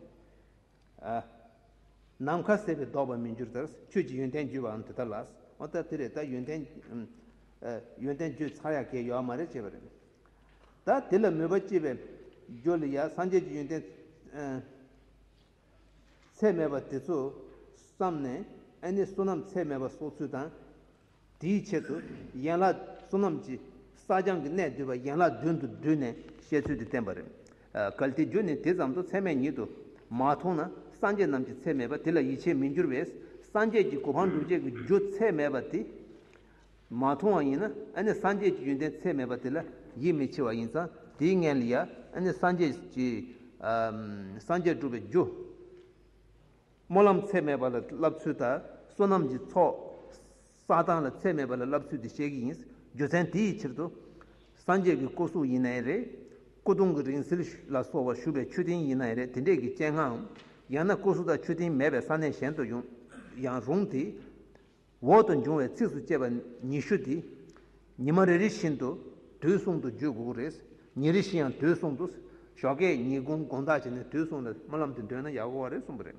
Speaker 1: ནམ་མཁའ་གསལ་བས་ལྡོག་པར་མི་འགྱུར་ལྟར་ཁྱོད་ཀྱི་ཡོན་ཏན་བརྗོད་པའང་དེ་ལྟར་ལགས། འོ་ད་དེ་རེད་ད་ཡོན་ཏན། ཡོན་ཏན་བརྗོད་ཚར་ཡག་གས་ཡོའ་མ་རེད་ཅེས་པ་རེད། ད་དེ་ལ་མོས་པ་སྐྱེས་པས། འགྱོ་ལི་ཡ་སངས་རྒྱས་ཀྱི་ཡོན་ཏན། ཚད་མེད་པ་དེ་ཚོ་བསམས་ནས་ཨེ་ནས་བསོད་ནམས་ཚད་མེད་པ་གསོག་ཚུལ་དང། དེའི་ཆེད་དུ་ཡན་ལག་བསོད་ནམས་ཀྱི་སྲ་བརྐྱང་གི་གནད་བསྡུས་པ་ཡན་ལག་བདུན་དུ་བསྡུས་ནས་བཤད་ཚུལ་འདི་བསྟན་པ་རེད། གལ་ཏེ་རྒྱུ་ནི་དེ་ཙམ་དུ་ཚད་མས་ཉིད་དུ་མ་མཐོང་ན་སངས་རྒྱས་རྣམས་ཀྱི་ཚད་མེད་པ་དེ་ལ་ཡིད་ཆེས་མི་འགྱུར་བས་སངས་རྒྱས་ཀྱི་གོ་འཕང་འགྲུབ་བྱེད་ཀྱི་རྒྱུ་ཚད་མེད་པ་དེ་མ་མཐོང་བ་ཡིན་ན་ཨ་ནི་སངས་རྒྱས་ཀྱི་ཡོན་ཏན་ཚད་མེད་པ་དེ་ལ་ཡིད་མི་ཆེས་བ་ཡིན་ཙང་དེའི་མངལ་ལ་ཡང་ཨ་ནི་སངས་རྒྱས་ཀྱི་སངས་རྒྱས་འགྲུབ་པའི་རྒྱུ། སྨོན་ལམ་ཚད་མེད་པ་ལ་བསླབ་ཚུལ་དང་བསོད་ནམས་ཀྱི་ཚོགས་བསགས་སྟངས་ལ་ཚད་མེད་པ་ལ་བསླབ་ཚུལ་འདི་བཤད་ཀྱི་ཡིན། རྒྱུ་མཚན་དེ་ཡི་ཕྱིར་དུ། སངས་རྒྱས་ཀྱི་སྐུ་གཟུགས་ཡིན་ནའི་རེ། སྐུ་གདུང་གི་རིང་བསྲེལ་ལ་སོགས་བ་བཞུ་བའི་མཆོད་རྟེན་ཡིན་ནའི་རེ་དེ་འདྲས་ཀྱི་སྤྱན་སྔའམ། ཡང་ན་སྐུ་གཟུགས་དང་མཆོད་རྟེན་མེད་པའི་ས་གནས་གཞན་དུ་ཡང་རུང་སྟེ། འོག་ཏུ་འབྱུང་བའི་ཚིགས་སུ་བཅད་པ་ཉི་ཤུ་དེ། ཉི་མ་རེ་རེ་བཞིན་དུ་དུས་གསུམ་དུ་བརྗོད་དགོས་རེད། ཉིན་རེ་བཞིན་ཡང་དུས་གསུམ་དུ། ཞོགས་ཀའི་ཉིན་གུང་དགོངས་དག་བྱས་ནས་དུས་གསུམ་ལ་སྨོན་ལམ་དེ་འདོན་ན་ཡག་གོ་རེད་གསུངས་པ་རེད།